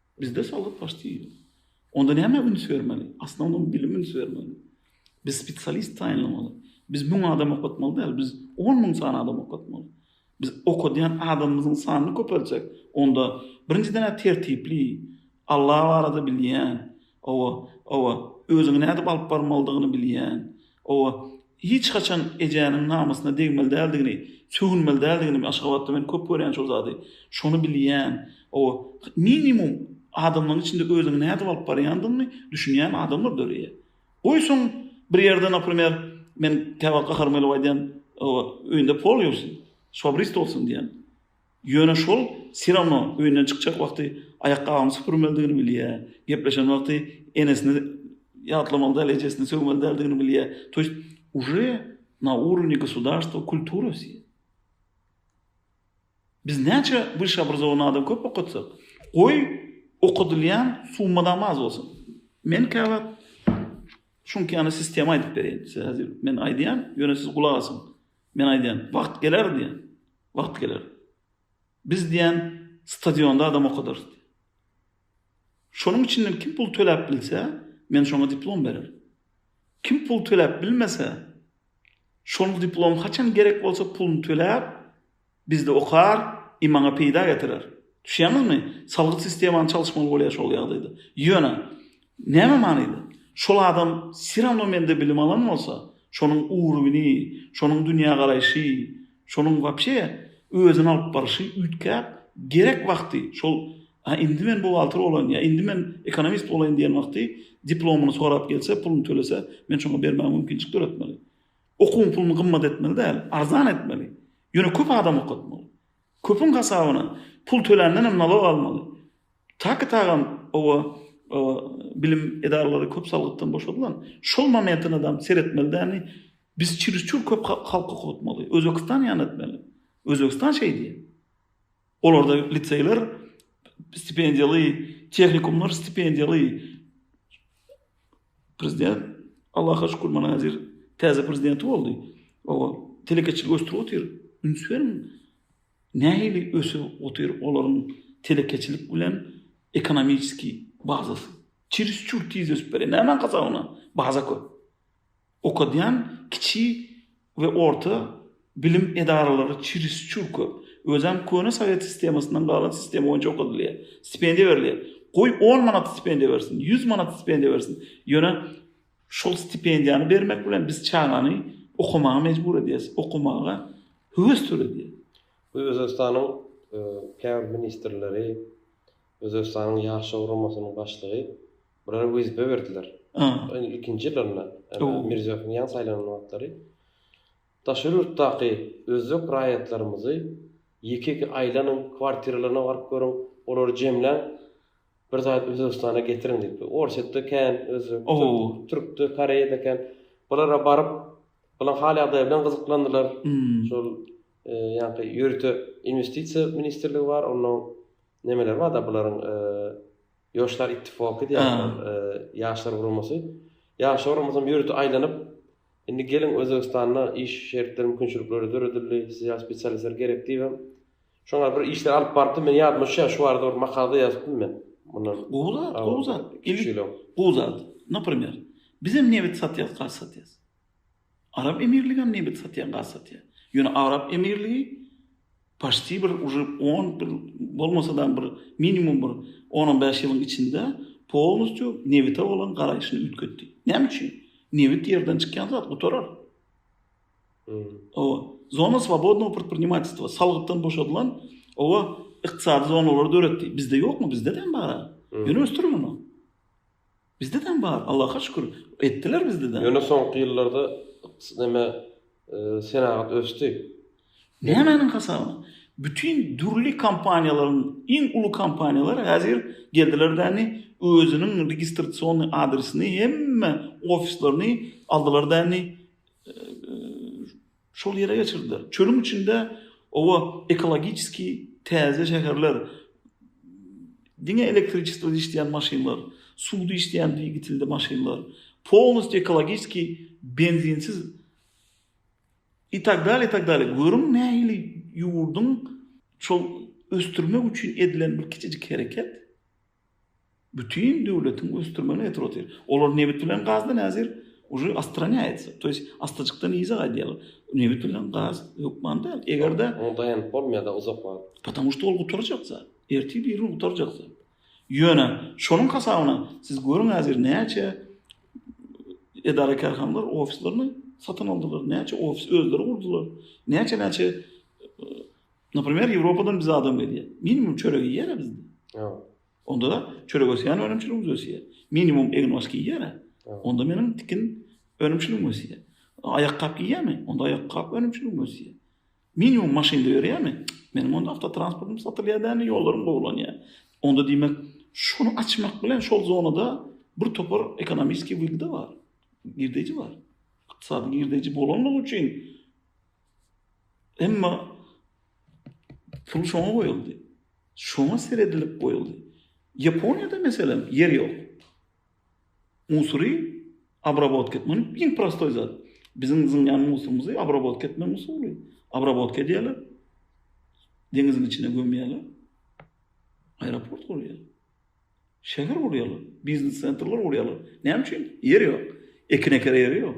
Bizde soldat başty ýok. Onda näme üns bermeli? Asnownyň bilim üns bermeli. Biz spesialist taýynlamaly. Biz müň adam okatmaly däl, biz on müň sany adam okatmaly. Biz okadýan adamymyzyň sanyny köpeljek. Onda birinjiden tertipli, Alla barada bilýän, owa, owa, özüňi nädip alyp barmalydygyny bilýän, Hawa, hiç haçan ejäniň namysyna degmeli däldigini, sögünmeli däldigini, Aşgabatda men köp görýän şol zady, şony bilýän. Hawa, minimum adamlaryň içinde özüňi nädip alyp barýandygyňy düşünýän adamlar döreýär. Goýsaň, bir ýerde, naprimer, men käwagt gaharym gelip aýdýan, hawa, öýünde pol ýuwsun, şwabrist bolsun diýen. Ýöne şol Sirano öýünden çykjak wagty aýakgabyny süpürmelidigini bilýär. Gepleşen wagty enesini ýatlamaly däl, ejesini sögmeli däldigini bilýär. To ýest uje na urowni gosudarstwa kultura wse. Biz näçe wyşeobrazowanyý adam köp okatsak, goý okadylýan summa-dam az bolsun. Men käwagt şuňkany sistema aýdyp bereýin. Size häzir men aýdýan, ýöne siz gulak asyň. Men aýdýan, wagt geler diýen. Wagt geler. Biz diýen stadionda adam okadarys diýen. Şonuň içinden kim pul töläp bilse, men şoňa diplom bererin. Kim pul töläp bilmese, şonuň diplomy haçan gerek bolsa puluny töläp, Bizde okar, i maňa peýda getirer. Düşýäňizmi? Salgyt sistemany çalyşmaly bolýar şol ýagdaýda. Ýöne, näme manyda? Şol adam se rawno mende bilim alan bolsa, şonuň uruwini, şonuň dünýägaraýşy, şonuň wapşe özüni alyp barşy üýtgäp, gerek wagty şol A indi men buhgalter bolaýyn ýa indi men ekonomist bolaýyn diýen wagty diplomyny sorap gelse, puluny tölese, men şoňa bermäge mümkinçilik döretmeli. Okuwyň puluny gymmat etmeli däl, arzan etmeli. Ýöne köp adam okatmaly. Köpüň hasabyna pul töländen hem nalog almaly. Taky tagam oba bilim edaralary köp salgytdan boşadylan. Şol momentyna dam seretmeli dälmi? Biz çürüsçür köp halky okatmaly. Özbegistan ýan etmeli. Özbegistan şeý diýýär. Olarda liseýler stipendiýaly, tehnikumlar stipendiýaly. Prezident Allaha şükür mana häzir täze prezidenti boldy. O telekeçiligi ösdürip otyr. Üns beriň. Nähili ösüp otyr olaryň telekeçilik bilen ekonomiski bazasy. Çiris çür tiz ösüp barýar. Nämäň hasabyna? Baza köp. Okadýan kiçi we orta bilim edaralary çirisçur köp. Özem köne sowet sistemasyndan galan sistema boýunça okadylýar. Stipendiýa berilýär. Goý on manat stipendiýa bersin, ýüz manat stipendiýa bersin, ýöne şol stipendiýany bermek bilen biz çagany okamaga mejbur edýäs, okamaga höwes töredýäs. Bu Özbegistanyň käbir ministrleri, Özbegistanyň Ýaşlar guramasynyň başlygy Bulara wezipe berdiler. Indi ilkinji ýyllarynda, Mirziýowyň ýaňy saýlanan wagtlary daşary ýurtdaky özbek raýatlarymyzy ýeke-ýeke aýlanyň, kwartiralaryna baryp görüň, olary jemläň, bir zat Özbegistana getiriň diýip. Orsýetde kän özbek, türkde, koreýada kän. Bulara baryp, bularyň hal-ýagdaýy bilen gyzyklandylar. Şol ýaňky ýörite inwestisiýa ministrligi bar, onuň nemeleri bar-da bularyň Ýoşlar ittifoky diýýärler, ýaşlar guramasy. Ýaşlar guramasam ýörite aýlanyp, indi geliň Özbegistanda iş şertleri, mümkinçilikleri döredildi, size ýaş spesialistler gerek diýibem, şoňa bir işler alyp barypdym. Men ýadyma düşýär, şu barada bir makala-da ýazypdym men. Mundan gowy zat, gowy zat. Gowy zat. Naprimer, bizem nebit satýarys, gaz satýarys. Arap emirligem nebit satýar, gaz satýar. Ýöne Arap emirligi paşti bir uje on bir bolmasa-da bir minimum bir on-on bäş ýylyň içinde polnusýu nebite bolan garaýşyny üýtgetdi. Näme üçin? Nebit ýerden çykýan zat gutarar. Owa, zona swobodnogo predprinimatelstwa, salgytdan boşadylan owa ykdysady zonalary döretdi. Bizde ýokmy? Bizde-de hem bar-a. Ýöne ösdürilen ol. Bizde däm bar, Allaha şükür, etdiler bizde däm. Ýöne soňky ýyllarda ykdys neme senagat ösdi. Nämäniň hasabyna? Bütin dürli kompaniýalaryň, iň uly kompaniýalar häzir geldiler däni özüniň registrasiony adresini hemme ofislerini aldylar däni Şol ýere geçirdiler. Çölüň içinde oba ekologiçeski täze şäherler, diňe elektriçestrada işleýän maşynlar, suwda işleýän dwigitilli maşynlar, polnostýu ekologiçeski benzinsiz i tak dalýa, i tak dalýa. Görüň nähili ýurduň şol ösdürmek üçin edilen bir kiçijik hereket. Bütin döwletiň ösdürmegine getirip otyr. Olar nebit bilen gazdan häzir uje ostranýaýatsa, to ýest astajykdan yza gaýdýarlar. Nebit bilen gaz hökman däl. Eger-de Oňa daýanyp bolmaýar-da uzak wagt. Potomu što ol gutarjak zat. Ertir bir gün gutarjak zat. Ýöne şonuň hasabyna siz görüň häzir näçe edara-kärhanalar ofislaryny satyn aldylar, näçe ofis özleri gurdular, näçe-näçe Naprimer, Ýewropadan bize adam gelýär. Minimum çörek iýýär-ä bizde. Ýok. Onda da çörek ösýän önümçiligimiz ösýär. Minimum egin-oş giýýär-ä. Onda meniň tikin önümçiligim ösýär. Aýakgap giýýärmi? Onda aýakgap önümçiligim ösýär. Minimum maşynda ýörýärmi? Meniň onda awtotransportym satylýar däl, ýollarym gowulanýar. Onda diýmek, şuny açmak bilen şol zonada bir topar ekonomiskiý wygda bar. Girdeýji bar. Ykdysady girdeýji bolanlygy üçin, Emma pul şoňa goýuldy. Şoňa seredilip goýuldy. Ýaponiýada meselem ýer ýok. Musury abrabotka etmek muny iň prostoý zat. Biziň zyňýan musurymyzy abrabotka etmek usuly. Abrabotka edýärler. Deňiziň içine gömýärler. Aeroport gurýarlar. Şäher gurýarlar. Biznes sentrler gurýarlar. Näme üçin? Ýer ýok. Ekin eker ýeri ýok.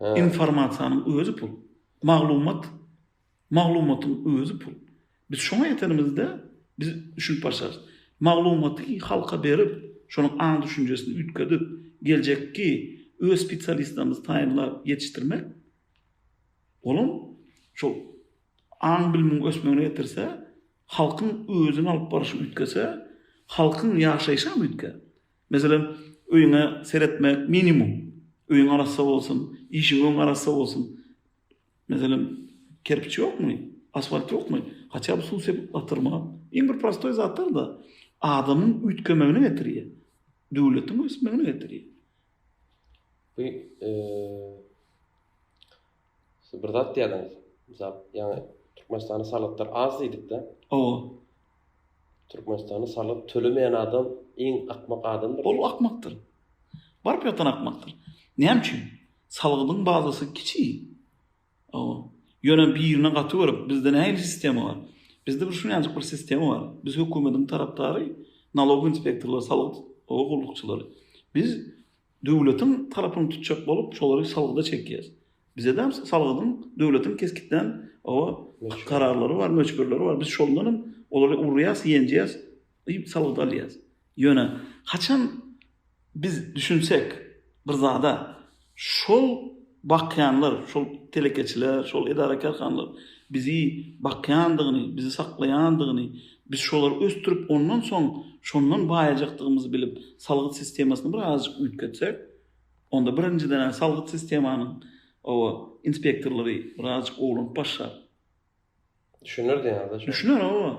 Informasiýanyň özi pul. Maglumat, maglumatyň özi pul. Biz şoňa ýetenimizde, biz düşünip başarys. Maglumaty halka berip, şonuň aň-düşünjesini üýtgedip, geljekki öz spesialistlerimizi taýynlap ýetişdirmek, olam şol aň-bilimiň ösmegine getirse, halkyň özüni alyp baryşy üýtgese, halkyň ýaşaýşam üýtgär. Meselem, öýüňe seretme, minimum. Öýüň arassa bolsun, işiň öň arassa bolsun. Meselem, kerpiç ýokmy, asfalt ýokmy, haçan bir suw sepip batyrma. Iň bir prostoý zatlar-da adamyň üýtgemegine getirýär. Döwletiň ösmegine getirýär. Bu, eee, siz bir zat diýýärdiňiz. Mysal, ýaňy Türkmenistanda salgytlar az diýdik-de. Hawa. Türkmenistanda salgyt tölemeýän adam iň akmak adamdyr. Ol akmakdyr. Baryp ýatan akmakdyr. Näme üçin? Salgydyň bazasy kiçi. Hawa. Ýöne birine gaty görip, bizde nähili sistema bar? Bizde bir şunýajyk bir sistema bar. Biz hökümediň tarapdary, nalog inspektorlary, salgyt gullukçylary. Biz Döwletiň tarapyny tutjak bolup şolary salgyda çekýäs. Bizedem salgydyň döwletiň kesgitlän oba kararlary bar, möçberleri bar. Biz şoldan hem olary urýas, ýenjýäs i salgyt alýas. Ýöne haçan biz düşünsek bir zada şol bakýanlar, şol telekeçiler, şol edara-kärhanalar bizi bakýandygyny, bizi saklaýandygyny, Biz şolary ösdürip, ondan soň şondan baýajakdygymyzy bilip, salgyt sistemasyny bir azajyk üýtgetsek, onda birinjiden-ä salgyt sistemanyň oba inspektorlary bir azajyk owlanyp başlar. Düşüner diýýäňiz-dä şoňa? Düşüner, oba.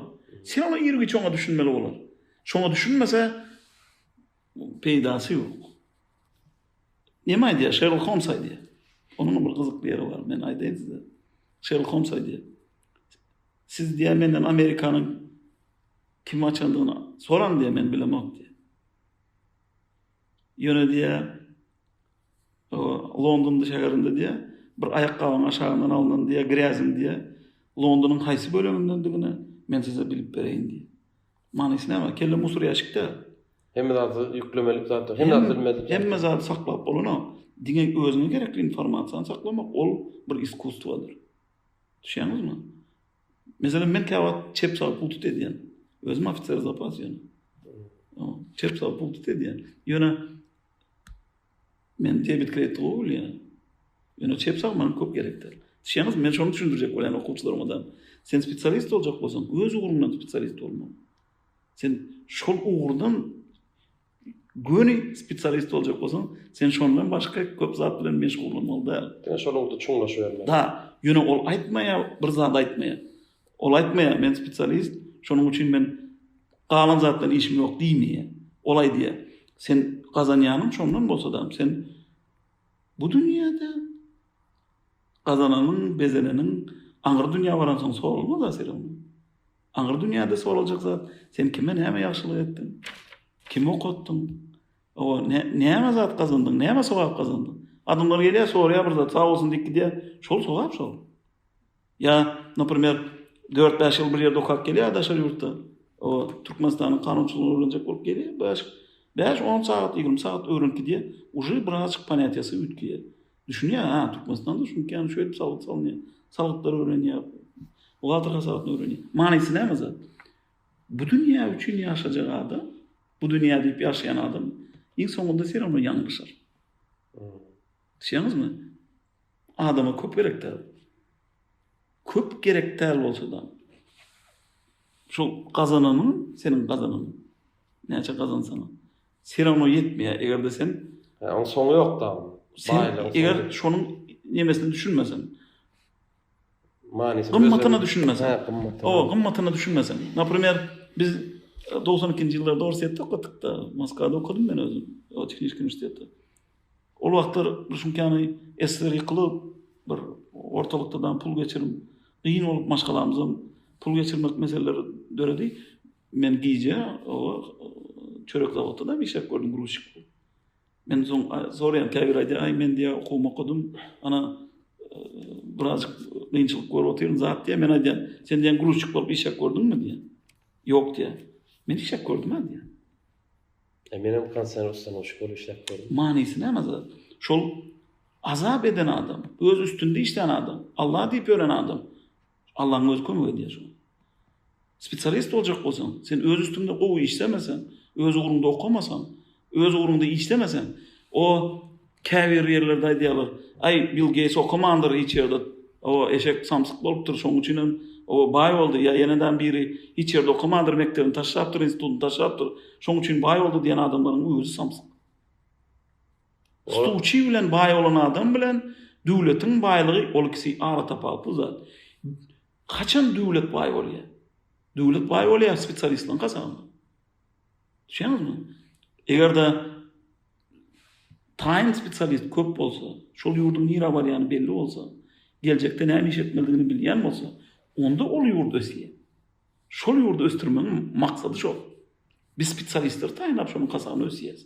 Sen ola ir giç oňa düşünmeli bolar. Şoňa düşünmese, peýdasy ýok. Näme aýdýar? Şerlok Holms aýdýar. Onuňam bir gyzykly ýeri bar, men aýdaýyn size. Şerlok Holms aýdýar. Siz diýýär menden Amerikanyň kim açandygyny soraň diýýär men bilemok diýýär. Ýöne diýýär Londonda şäherinde diýýär bir aýakgabyň aşagyndan alnan diýýär gräziň diýýär Londonyň haýsy bölegindendigini men size bilip bereýin diýýär. Manysy näme? Kelle musur ýaşykda. Hemme zady ýüklemelik zatlar. Hemme zady bilmedik. Hemme zady saklap bolanok. Diňe özüňe gerekli informasiýany saklamak ol bir iskusstwodyr. Düşýäňizmi? Meselem, men käwagt çep sag pul tut edýän. Özüm ofiser zapas ýöne. Çep sag pul tut edýän. Ýöne men debit kredit gowy bilýän. Ýöne çep sag maňa köp gerekdir. Düşýäňizmi? Men şony düşündirjek bolýan okuwçylaryma da. Sen spesialist boljak bolsaň, öz ugruňdan spesialist bolmaly. Sen şol ugurdan Göni spesialist boljak bolsaň, sen şondan başga köp zat bilen meşgullanmaly däl. Diňe şol ugurda çuňlaşybermeli. Da, ýöne ol aýtmaýar, bir zat aýtmaýar. Ol aýtmaýar, men spesialist, şonuň üçin men galan zat bilen işim ýok diýmeýär. Ol aýdýar, sen gazanýanyň şondan bolsa-da, sen bu dünýäde gazananyň, bezeneniň aňry dünýä baransoň soralma-da, Serewnur. Aňry dünýäde soraljak zat, sen kime näme ýagşylyk etdiň? Kimi okatdyň? Hawa, näme zat gazandyň? Näme sogap gazandyň? Adamlar gelýär, soraýar bir zat, sag bolsun diýip gidýär. Şol sogap şol. Ýa, naprimer, dört-bäş ýyl bir ýerde okap gelýär daşary ýurtda. O, Türkmenistanyň kanunçylygyny öwrenjek bolup gelýär. Bäş, bäş-on sagat, ýigrimi sagat öwrenip gidýär. Uje birazajyk ponýatiýasy üýtgeýär. Düşünýär, ha, Türkmenistanda düşünýär, şeýdip salgyt salynýar. Salgytlary öwrenýär. Buhgalter hasabatyny öwrenýär. Manysy näme zat? Bu dünýä üçin ýaşajak adam, bu dünýä diýip ýaşaýan adam iň soňunda seramly ýalňyşar. Düşünýäňizmi? Adama köp gerek däl. Köp gerek däl bolsa-da. Şu gazananyň, seniň gazananyň. Näçe gazansaň. Serawno ýetmeýär, eger-de sen. Hä, oň soňy ýok dagyn. Sen eger şonuň nemesine düşünmeseň. Manysyna. Gymmatyna düşünmeseň. Hä, gymmatyna. Owa, gymmatyna düşünmeseň. Naprimer, biz 92-nji ýyllarda Orsýetde okadykda, Moskwada okadym men özüm, o tehniçki uniwersitetde. Ol wagtlar bir şuňkany SSR ýykylyp, bir ortalykda da pul geçirim, giň bolup maşgalamyzam pul geçirmek meseleleri döredi. Men gije oba çörek zawodynda işläp gördüm gruzçik bolup. Men soň soraýan käbir aýdýar, aý men diýýär okuwymy okadym, ana birazjyk kynçylyk görüp otyryn zat diýýär. Men aýdýan, sen diýýän gruzçik bolup işläp gördüňmi diýýär. Ýok diýýär. Men işläp gördüm-ä diýýär. E men hem konsern ustanowşik bolup işläp gördüm. Manysy näme zat? Şol azap eden adam, öz üstünde işlän adam, Allah diýip ölen adam. Allaň özi kömek edýär şoňa. Spesialist boljak bolsaň, sen öz üstüňde gowy işlemeseň, öz ugruňda okamasaň, öz ugruňda işlemeseň, o käbir ýerlerde aýdýarlar, Aý, Bill Geýts okamandyr hiç ýerde, o eşek samsyk bolupdyr, şoň üçin hem o baý boldy, ýa ýene-dä biri hiç ýerde okamandyr, mekdebini taşlapdyr, institutyny taşlapdyr, şoň üçin baý boldy diýen adamlaryň özi samsyk. Stuçi bilen baý bolan adam bilen döwletiň baýlygy ol ikisi ara tapawutly zat. Haçan döwlet baý bolýar? Döwlet baý bolýar spesialistleriň hasabyna. Düşüniňizmi? Eger-de taýyn spesialist köp bolsa, şol ýurduň nirä barýany belli bolsa, geljekde näme iş etmelidigini bilýän bolsa, onda ol ýurt ösýär. Şol ýurdy ösdürmegiň maksady şol. Biz spesialistleri taýynlap şonuň hasabyna ösýäris.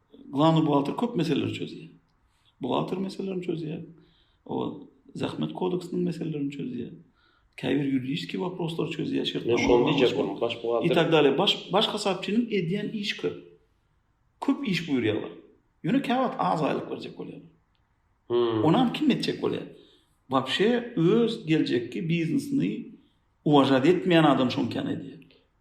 Glavny buhgalter köp meseleleri çözýär. Buhgalter meselelerini çözýär. O zähmet kodeksiniň meselelerini çözýär. Käbir ýuridiski waproslary çözýär. Şert tamam. Şoň diýjek bolan baş buhgalter. I tak dalýa. Baş baş hasapçynyň edýän iş köp. Köp iş buýurýarlar. Ýöne käwagt az aýlyk berjek bolýar. Hmm. Onam kim etjek bolýar? Wapşe öz geljekki biznesini uwažat etmeýän adam şoňkany edýär.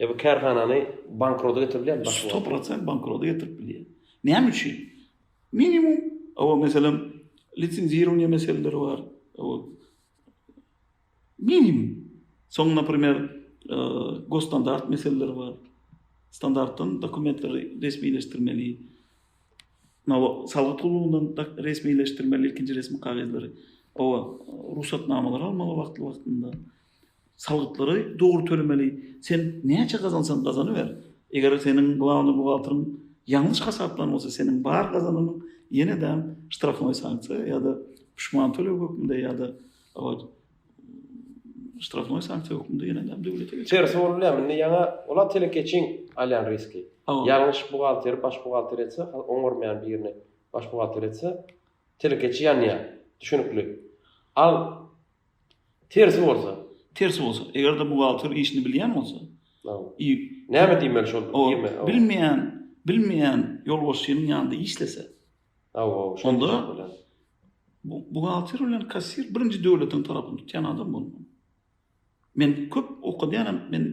E bu kärhanany bankrota getirip bilýärmi? Başga Sto prosent bankrota getirip bilýär. Näme üçin? Minimum, o meselem, lisenzirowniýa meseleleri bar. O minimum. Soň, naprimer, e, gosstandart meseleleri bar. Standartdan dokumentleri resmileşdirmeli. Nalo salgyt gullugynyň da resmileşdirmeli ikinji resmi kagyzlary. O rugsatnamalary almaly wagtly-wagtynda. Salgytlary dogry tölemeli, sen näçe gazansaň gazanyber. Eger seniň glawnyý buhgalteryň ýalňyş hasaplan bolsa, seniň bar gazananyň ýene-de ştrafnoý sanksiýa ýa-da puşman töleg hökmünde ýa-da ştrafnoý sanksiýa hökmünde ýene-de döwlete geçer. Tersi bolup biler, indi ýaňa olar telekeçiň alýan riski. Ýalňyş buhgalteri baş buhgalter etse, oňarmaýan birini baş buhgalter etse, telekeçi ýanýar, düşünikli. Al Tersi bolsa? Tersi bolsa, eger-de buhgalter işini bilýän bolsa, i, Näme diýmeli şol birme? Ol bilmeýän, bilmeýän ýolbaşçynyň ýanynda işlese, Hawa, onda buhgalter bilen kassir birinji döwletiň tarapyny tutýan adam bolmaly. Men köp okadýanam, men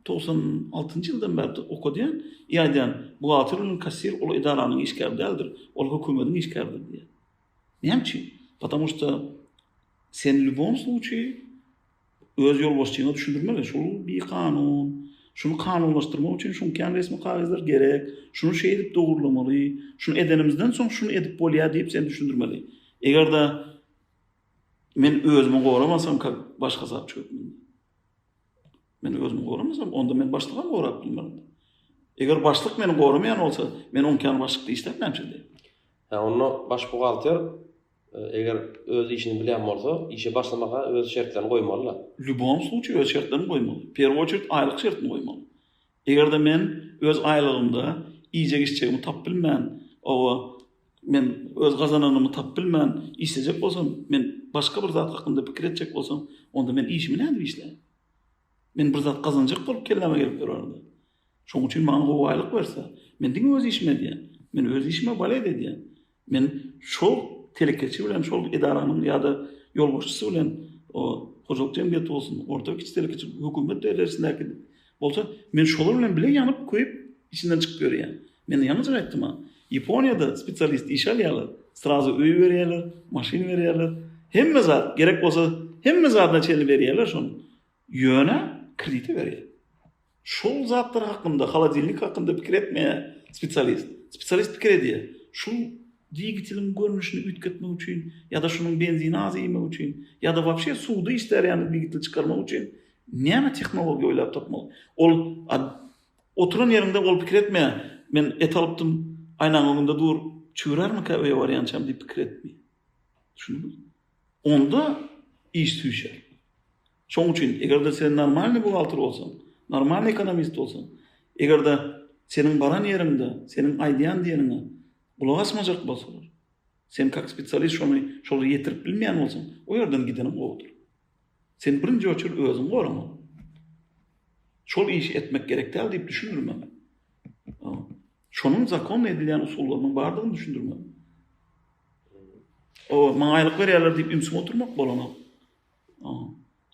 togsan altynjy ýyldan bäri okadýan, i aýdýan, buhgalter bilen kassir ol edaranyň işgäri däldir, ol hökümetiň işgäridir diýýän. Näme üçin? Patamu şda sen lýubom sluçaý öz ýolbaşçyňa düşündirmeli, şol bir kanun, şuny kanunlaşdyrmak üçin şuň kän resmi kagyzlar gerek, şuny şeýdip dogurlamaly, şuny edenimizden soň şuny edip bolýar diýip sen düşündirmeli. Eger-de men özümi goramasam kak başga sapçy hökmünde. Men özümi goramasam, onda men başlygam gorap bilmerin. Eger başlyk meni goramaýan bolsa, men oňkany başlykda işläp näme üçin? Hä, onda baş buhgalter e, eger öz işini bilýän bolsa, işe başlamaka öz şertlerini goýmaly-da. Lýubom sluçaý öz şertlerini goýmaly. Perw oçert aýlyk şertini goýmaly. Eger-de men öz aýlygymda iýjek-içjegimi tapyp bilmän, hawa, men öz gazananymy tapyp bilmän işlejek bolsam, men başga bir zat hakynda pikir etjek bolsam, onda men işimi nädip işläýin? Men bir zat gazanjak bolup kelläme gelip durardy. Şonuň üçin maňa gowy aýlyk berse, men diňe öz işimi edýän. Men öz işime balet edýän. Men şol telekeçi bilen şol edaranyň ýa-da ýolbaşçysy bilen hojalyk jemgyýeti bolsun, orta we kiçi telekeçi hökümet derejesindäki bolsa, men şolar bilen bile ýanyp, köýüp, içinden çykyp ýörýän. Men ýalňyjyk aýtdym-a. Ýaponiýada spesialist işe alýarlar, srazu öý berýärler, maşyn berýärler, hemme zat, gerek bolsa, hemme zadyna çenli berýärler şony. Ýöne kredite berýär. Şol zatlar hakynda, holodilnik hakynda pikir etmeýär spesialist. Spesialist pikir edýär, şu dwigeteliň görnüşini üýtgetmek üçin ýa-da şunuň benzini az iýmek üçin ýa-da wapşe suwda işlär ýaly dwigeteli çykarmak üçin näme tehnologiýa oýlap tapmaly. Ol oturan ýeriňde ol pikir etmeýär, men et alypdym, aýnaň öňünde dur, çüwürärmikä öýe barýançam diýip pikir etmeýär. Düşündiňizmi? Onda iş süýşer. Şoň üçin, eger-de sen normalny buhgalter bolsaň, normalny ekonomist bolsaň, eger-de seniň baran ýeriňde seniň aýdýan diýeniňe gulak asmajak bolsalar, sen kak spesialist şony şolara ýetirip bilmeýän bolsaň, o ýerden gideniň gowudyr. Sen birinji oçer özüňi goramaly. Şol işi etmek gerek däl diýip düşündirmeli. Şonuň zakonda edilýän usullarynyň bardygyny düşündirmeli. O, maňa aýlyk berýärler diýip ümsüm oturmak bolanok.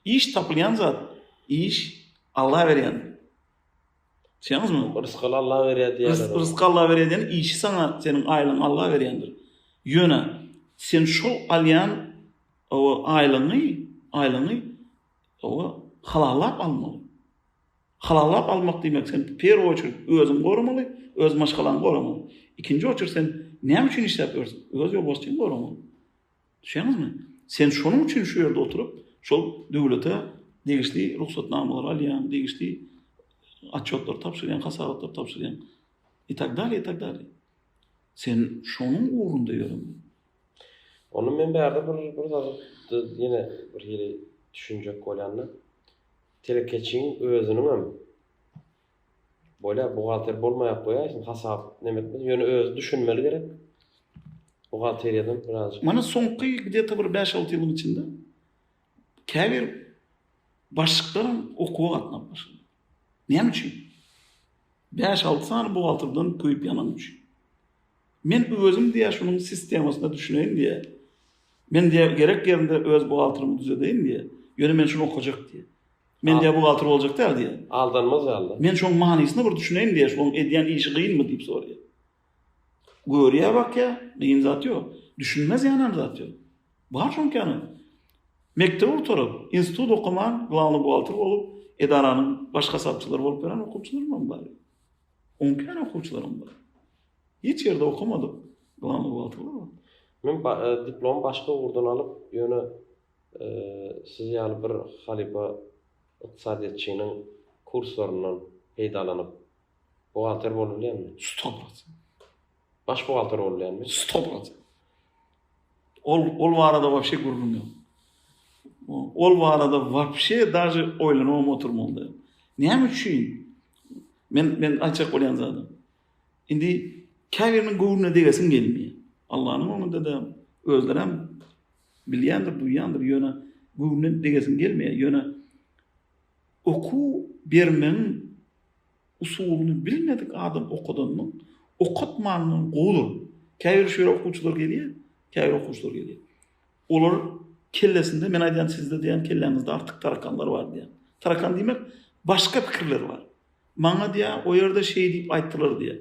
Iş tapylýan zat, iş Alla berýän. Düşünýäňizmi? Rysgal Alla berýär diýýärler. Rysgal Alla berýär diýen işi saňa seniň aýlygyň Alla berýändir. Ýöne sen şol alýan o aýlygyňy, aýlygyňy o halallap almaly. Halallap almak diýmek sen perw üçin özüň goramaly, öz maşgalaň goramaly. Ikinji oçur sen näme üçin işläp ýörsiň? Öz ýolbaşçyň goramaly. Düşýäňizmi? Sen şonuň üçin şu ýerde oturyp, şol döwlete degişli rugsatnamalary alýaň, degişli otçýotlary tabşyrýaň, hasabatlary tabşyrýaň. I tak dalýa, i tak dalýa. Sen şonuň ugrunda ýöremeli. Onda men bärde bir bir zady ýene bir hili düşünjek bolýan-da. Telekeçiň özüniňem Bolýar, buhgalter bolmaýak goýaý, şuny hasap neme etmeli, ýöne özi düşünmeli gerek. Buhgalteriýadan birazjyk. Mana soňky gde-ta bir bäş-alty ýylyň içinde käbir başlyklar hem okuwa gatnap başlady. Näme üçin? Bäş-alty sany buhgalterden köýüp ýanany üçin. Men özüm diýýä şunuň sistemasyna düşüneýin diýýä. Men diýýä gerek ýerinde öz buhgalterimi düzedeýin diýýä. Ýöne men şuny okajak diýýä. Men diýýär, buhgalter boljak däl diýýär. Aldanmaz ýaly-da. Men şoň manysyna bir düşüneýin diýýär, şoň edýän işi gynmy diýip soraýar. Görýär, bakýar, gyn zat ýok. Düşünmez ýanam zat ýok. Bar şoň känä. Mekdebi gutaryp, institut okaman, glawnyý buhgalter bolup, edaranyň baş hasapçylary bolup ýören okuwçylarymam bar. On kän okuwçylarym bar. Hiç ýerde okamadyk glawnyý buhgalterler bar. Men diplom başga ugurdan alyp, ýöne Siz ýaly bir halypa ykdysadyýetçiniň kurslaryndan peýdalanyp buhgalter bolubilýärmi? Sto prosent. Baş buhgalter bolubilýärmi? Sto prosent. Ol ol barada wapşe gürrüň ýok. Ol barada wapşe daže oýlanybam oturman da. Näme üçin? Men men aýtjak bolýan zadym. Indi käbiriniň göwnüne degesiň gelmeýär. Allanyň öňünde-de özlerem Bilýändir, duýýandyr, ýöne göwnünden degesiň gelmeýär. Ýöne okuw bermegiň usulyny bilmedik adam okadanyň, okatmanyndan gowudyr. Käbir şeýle okuwçylar gelýär, käbir okuwçylar gelýär. Olar kellesinde, men aýdýan sizde diýýän kelläňizde artyk tarakanlar bar diýýän. Tarakan diýmek, başga pikirler bar. Maňa diýýär, o ýerde şeý diýip aýtdylar diýýär.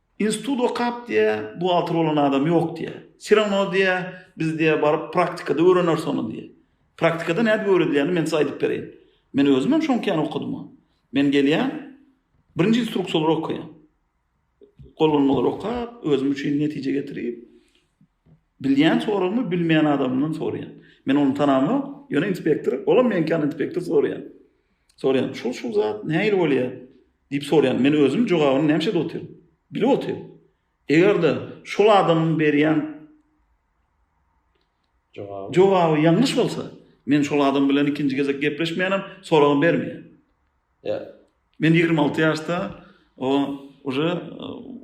Institut okap diýýär, buhgalter bolan adam ýok diýýär. Все rawno diýýär, biz diýýär baryp praktikada öwreneris ony diýýär. Praktikada nädip öwredilýänini men size aýdyp bereýin. Men özüm hem şoňky ýaly okadym ony. Men gelýän, birinji instruksiýalary okaýan. Gollanmalary okap, özüm üçin netije getirip, Bilýän soragymy bilmeýän adamdan soraýan. Men ony tanamok, ýöne inspektor, olam meňki ýaly inspektor soraýan. Soraýan, şul-şul zat nähili bolýar? diýip soraýan. Men özüm jogabyny nämişede otyryn? Bilip otyryn. Eger-de şol adamyň berýän jogaby ýalňyş bolsa, men şol adam bilen ikinji gezek gepleşmeýänem, soragam bermeýän. Men ýigrimi alty ýaşda o уже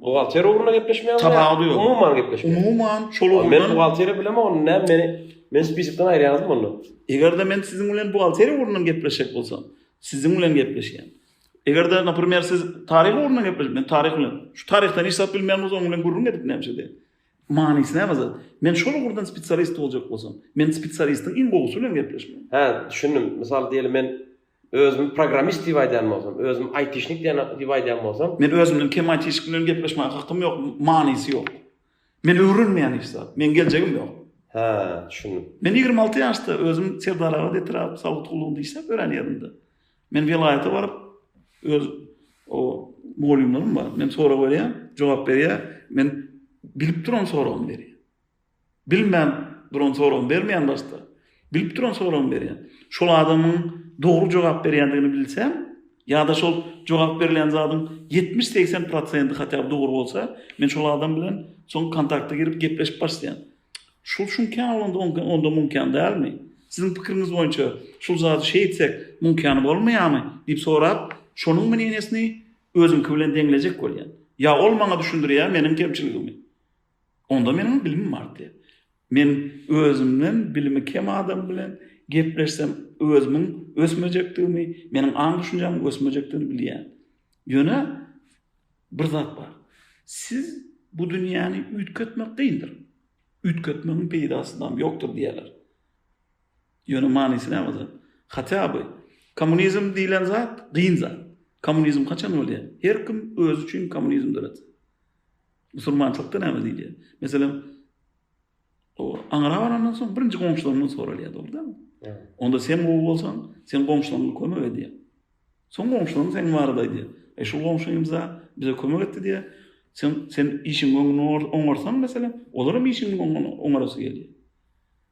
buhgalter ugrunda gepleşmeýäňmi? Tabawudy ýok. Umuman gepleşmeýäň. Umuman şol ugrunda. Men buhgalteri bilemok, onda näme meni men spisikden aýyrýaňyzmy onda? Eger-de men siziň bilen buhgalteri ugrundan gepleşjek bolsam, siziň bilen gepleşýän. Eger-de, naprimer, siz taryh ugrundan gepleşip, men taryh bilen. Şu taryhdan hiç zat bilmeýän bolsa, onuň bilen gürrüň edip nämişe diýen. Manysy näme zat? Men şol ugrundan spesialist boljak bolsam, men spesialistiň iň gowusy bilen gepleşmelimi? Hä, düşündim. Mysal diýeli, men Özümi programmist diýip aýdýan bolsam, özümi aýtişnik diýen diýip aýdýan bolsam. Men özümden kem aýtişnik bilen gepleşmäge hakym ýok, manysy ýok. Men öwrenmeýän hiç zat. Meň geljegim ýok. Hä, düşündim. Men ýigrimi alty ýaşda özüm Serdar Agat etrap sowut gullugyny işläp ýören ýerimde. Men welaýata baryp öz o mugallymlarym bar. Men sorag berýän, jogap berýär. Men bilip duran soragymy berýär. Bilmän duran soragyny bermeýän başda, bilip duran soragyny berýän. Şol adamyň dogry jogap berýändigini bilsem, ýa-da şol jogap berilýän zadyň ýetmiş-segsen prosenti hatýa bir dogry bolsa, men şol adam bilen soň kontakta girip gepleşip başlaýan. Şol şuňkän bolanda onda muňkän dälmi? Siziň pikiriňiz boýunça şul zady şeý etsek muňkän bolmaýamy? diýip sorap, şonuň mneniýesini özüňki bilen deňlejek bolýan. Ýa ol maňa düşündirýär meniň kemçiligimi. Onda meniň bilimim artýar. Men özümden bilimi kem adam bilen gepleşsem, özümiň ösmejekdigimi, meniň aň-düşünjämiň ösmejekdigini bilýän. Ýöne bir zat bar. Siz bu dünýäni üýtgetmek kyndyr. Üýtgetmegiň peýdasy dam ýokdur diýýärler. Ýöne manysy näme zat? Hatýa by kommunizm diýlen zat kyn zat. Kommunizm haçan bolýar? Her kim özi üçin kommunizm döretse. Musulmançylykda näme diýilýär? Meselem, o aňra barandan soň birinji goňşularyndan soralýar, dogrudanmy? Onda sen gowy bolsaň, sen goňşularyňa kömek edýär. Soň goňşularyň sen barada aýdýar. E şu goňşumyza bize kömek etdi diýär. Sen sen işiň öňüni oňarsaň meselem, olar hem işiň öňüni oňarasy gelýär.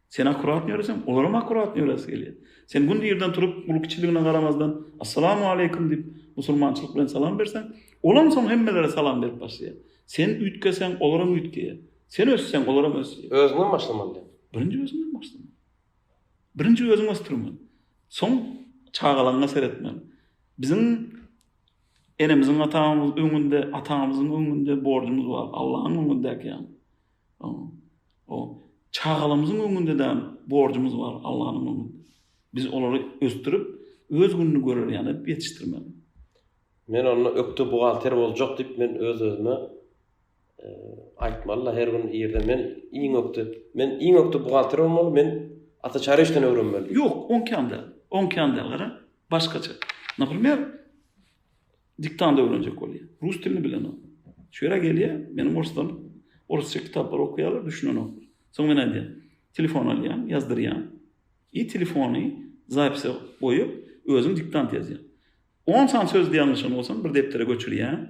Sen akkuratny ýöreseň, olaram akkuratny ýöresi gelýär. Sen günde irden turup, uly kiçiligine garamazdan, Assalamu aleýkum diýip, musulmançylyk bilen salam berseň, olam soň hemmelere salam berip başlaýar. Sen üýtgeseň, olaram üýtgeýär. Sen össeň, olaram ösýär. Özüňden başlamaly diýip. Birinji özüňden başlamaly. Birinji özüňi ösdürmeli. Soň çagalaňňa seretmeli. Biziň enemiziň-atamyzyň öňünde, atamyzyň öňünde borjumyz bar, Allaň öňündäki ýaly. O çagalarymyzyň öňünde däl borjumyz bar Allanyň öňünde. Biz olary ösdürip, öz gününi görer ýaly edip ýetişdirmeli. Men onda ökde buhgalter boljak diýip men öz özüme aýtmaly-da her gün irden men iň ökde, men iň ökde buhgalter bolmaly, men ata çary işden öwrenmeli diýip. Ýok, oňkam däl, oňkam däl gara, başgaça. Naprimer, Diktanda öwrenjek bolýar. Rus dilini bilenok. Şu ýere gelýär, meniň orslarym orsça kitaplary okaýarlar, düşünenoklar. Soň men aýdýan, telefon alýan, ýazdyrýan. I telefony zapise goýup, özüm diktant ýazýan. On sany sözde ýalňyşan bolsam, bir depdere göçürýän.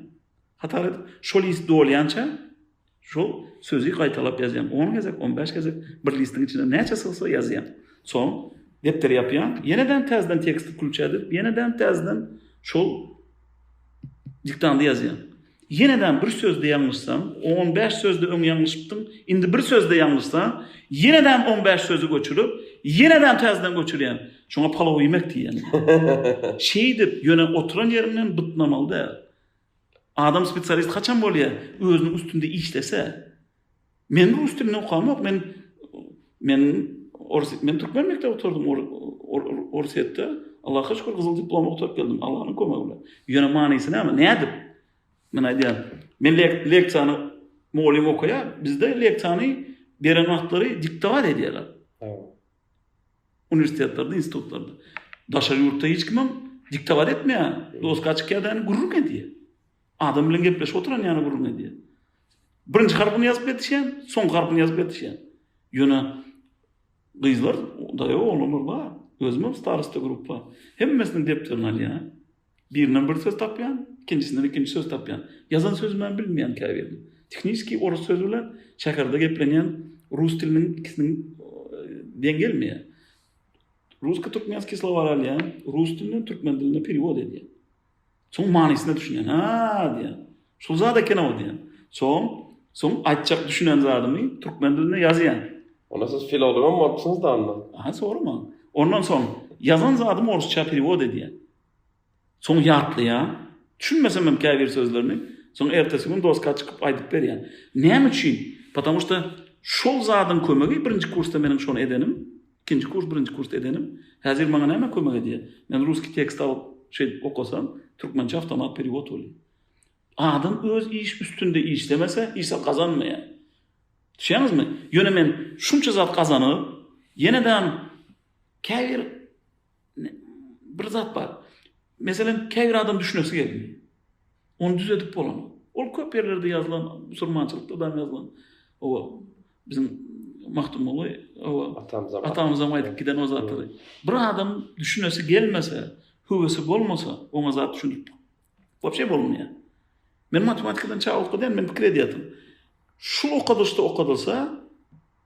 Hatar edip, şo list dolýança Şol sözi gaýtalap ýazýaň. On gezek, on bäş gezek bir listiň içine näçe sygsa ýazýaň. Soň depderi ýapýaň. Ýene-de täzeden teksti wklýuç edip, ýene-de täzeden şol diktandy ýazýaň. Ýene-de bir sözde ýalňyşsaň, on bäş sözde öň ýalňyşypdyň, indi bir sözde ýalňyşsaň, ýene-de on bäş sözi göçürip, ýene-de täzeden göçürýäň. Şoňa palow iýmek diýýän. Şeýdip, ýöne oturan ýeriňden bytnamaly däl. Adam spesialist haçan bolýa özüniň üstünde işlese men rus dilini okamok men men orus men türkmen mekdep oturdym orusýetde Allaha şükür gyzyl diplom oturyp geldim Allah'ın kömegi bilen ýöne manysy näme nädip men aýdýan men leksiýany mugallym okaýar bizde leksiýany beren wagtlary diktowat edýärler Uniwersitetlerde, institutlarda. Daşary ýurtda hiç kim hem diktowat etmeýär. Doska çykýar da gürrüň edýär. Adam bilen gepleşip oturan ýaly gürrüň edýär. Birinji harpyny ýazyp ýetişýän, soňky harpyny ýazyp ýetişýän. Ýöne gyzlar, daýaw oglanlar bar. Özüm hem starosta gruppa. Hemmesiniň depderini alýar. Birinden bir söz tapýan, ikinjisinden ikinji söz tapýan. Ýazan sözümem bilmeýän käbirini. Tehniskiý orus sözi bilen şäherde geplenýän rus diliniň ikisiniň deň gelmeýär. Rusko-türkmenskiý slowary alýan, rus dilinden türkmen diline perewod edýän. Soň manysyna düşünýän. Ha diýen. Şul zat eken-ow diýen. Soň, soň aýtjak düşünen zadymy türkmen dilinde ýazýan. Onda siz filologam bolupsyňyz-da onda. Aha, sorama. Ondan soň ýazan zadymy orusça perewod edýän. Soň ýatlaýan. Düşünmesem hem käbir sözlerini. Soň ertesi gün doska çykyp aýdyp berýän. Näme üçin? Patamu şda şol zadyň kömegi birinji kursda meniň şony edenim, ikinji kurs, birinji kursda edenim, häzir maňa näme kömek edýär? Men ruski tekst alyp şeýdip okasam, türkmençe awtomat periwod bolýar. Adam öz iş üstünde işlemese, hiç zat gazanmaýar. Düşýäňizmi? Ýöne men şunça zat gazanyp, ýene-dam käbir Bir zat bar. Meselem, käbir adam düşünesi gelmir. Ony düzedip bolanok. Ol köp ýerlerde ýazylan, musulmançylykda da ýazylan. Owa, biziň Magtymguly, owa, atamyzam, atamyzam aýdyp giden o zatlary. Bir adam düşünesi gelmese, höwesi bolmasa, oňa zat düşünip Wapşe bolmaýar. Men matematikadan çaw okadýan, men pikir edýärdim. Şu okadyşda okadylsa,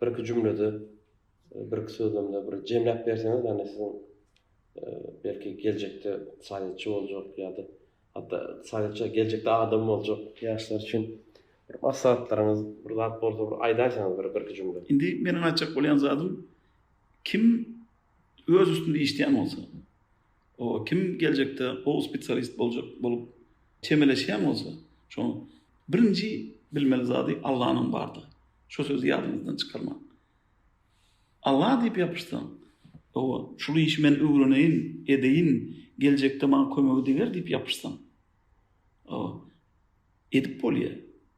birki jümlede, birki sözlemde bir jemläp berseňiz, ýagny siziň belki geljekde ykdysadyýetçi boljak ýa-da hatda ykdysadyýetçi geljekde adam boljak ýaşlar üçin bir maslahatlaryňyz, bir zat bolsa bir aýdaýsaňyz bir birki jümle. Indi meniň aýtjak bolýan zadym kim öz üstünde işleýän bolsa, O kim geljekde gowy spesialist boljak bolup çemeleşýän bolsa, şoň birinji bilmeli zady Allanyň bardygy. Şo sözi ýadyňyzdan çykarmaň. Alla diýip ýapyşsaň, owa, şul işi men öwreneýin, edeýin, geljekde maňa kömegi deger diýip ýapyşsaň, owa, edip bolýar.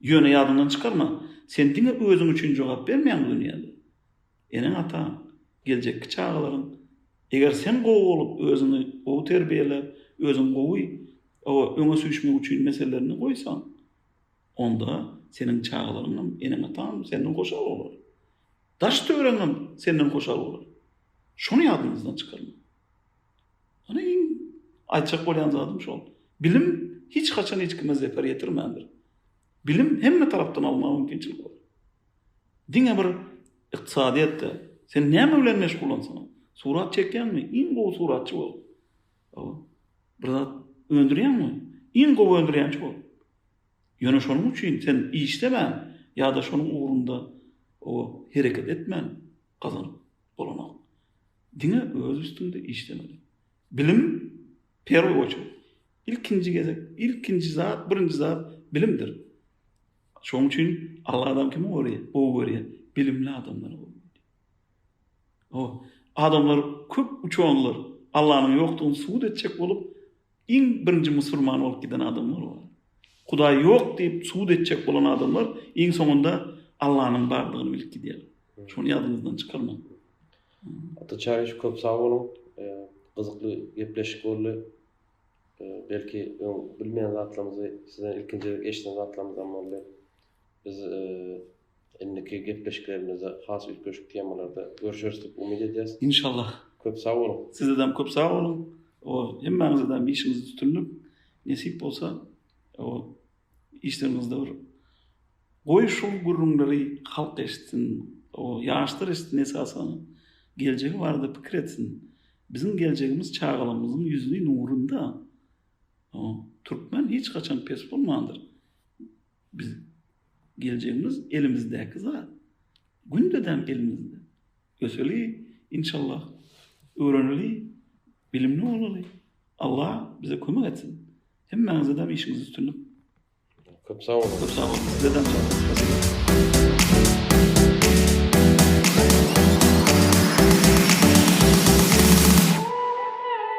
Ýöne ýadyňdan çykarma, sen diňe özüň üçin jogap bermeýäň bu dünýäde. Eneň-ataň, geljekki çagalaryň. Eger sen gowy bolup, özüňi gowy terbiýeläp, özüň gowy, hawa, öňe süýşmek üçin meselelerini goýsaň, onda seniň çagalaryňam, eneň-ataňam senden hoşal bolar. Daş-töweregiňem senden hoşal bolar. Şony ýadyňyzdan çykarmaň. Ony iň aýtjak bolýan zadym şol. Bilim hiç haçan hiç kime zeper ýetirmändir. Bilim hemme tarapdan almaga mümkinçilik bar. Diňe bir ykdysadyýetde sen näme bilen meşgullansaň, surat çekýäňmi? Iň gowy suratçy bol. Bir zat öndürýäňmi? Iň gowy öndürýänçi bol. Ýöne şonuň üçin sen işlemän ýa-da şonuň ugrunda o hereket etmän, gazanyp bolanok. Diňe öz üstüňde işlemeli. Bilim perwy oçert. Ilkinji gezek, ilkinji zat, birinji zat bilimdir. Şoň üçin Alla adam kimi gowy görýär? Bilimli adamlary gowy görýär. Ho, adamlar köp uçanlar Allanyň ýokdugyny subut etjek bolup, Iň birinji musulman bolup giden adamlar bar. Hudaý ýok diýip subut etjek bolan adamlar iň soňunda Allanyň bardygyny bilip gidýärler. Şony ýadyňyzdan çykarmaň. Ata Çaryş köp sag boluň. Gyzykly gepleşik boldy. Belki öň bilmeýän zatlarymyzy sizden ilkinji gezek eşiden zatlarymyzam boldy. Biz Indiki gepleşiklerimizde has üýtgeşik temalarda görüşeris diýip umyt edýäs. Inşallah. Köp sag boluň. Sizedem köp sag boluň. Ol hemmäňizedem işiňizde üstünlik. Nesip bolsa ol işleriňizde bir goý şu gürrüňleri halk eşitsin. O ýaşlar eşitsin esasan. Geljegi barada pikir etsin. Biziň geljegimiz çagalarymyzyň ýüzüni nurunda. O türkmen hiç haçan pes bolmandyr. Biz geljegimiz elimizdäki zat. Gündedem elimizde. Öseli inşallah. Öwreneli, bilimli bolaly. Allah bize kömek etsin. Hemmäňize de işiňizde üstünlik. Köp sag bolun. Köp sag bolun. Size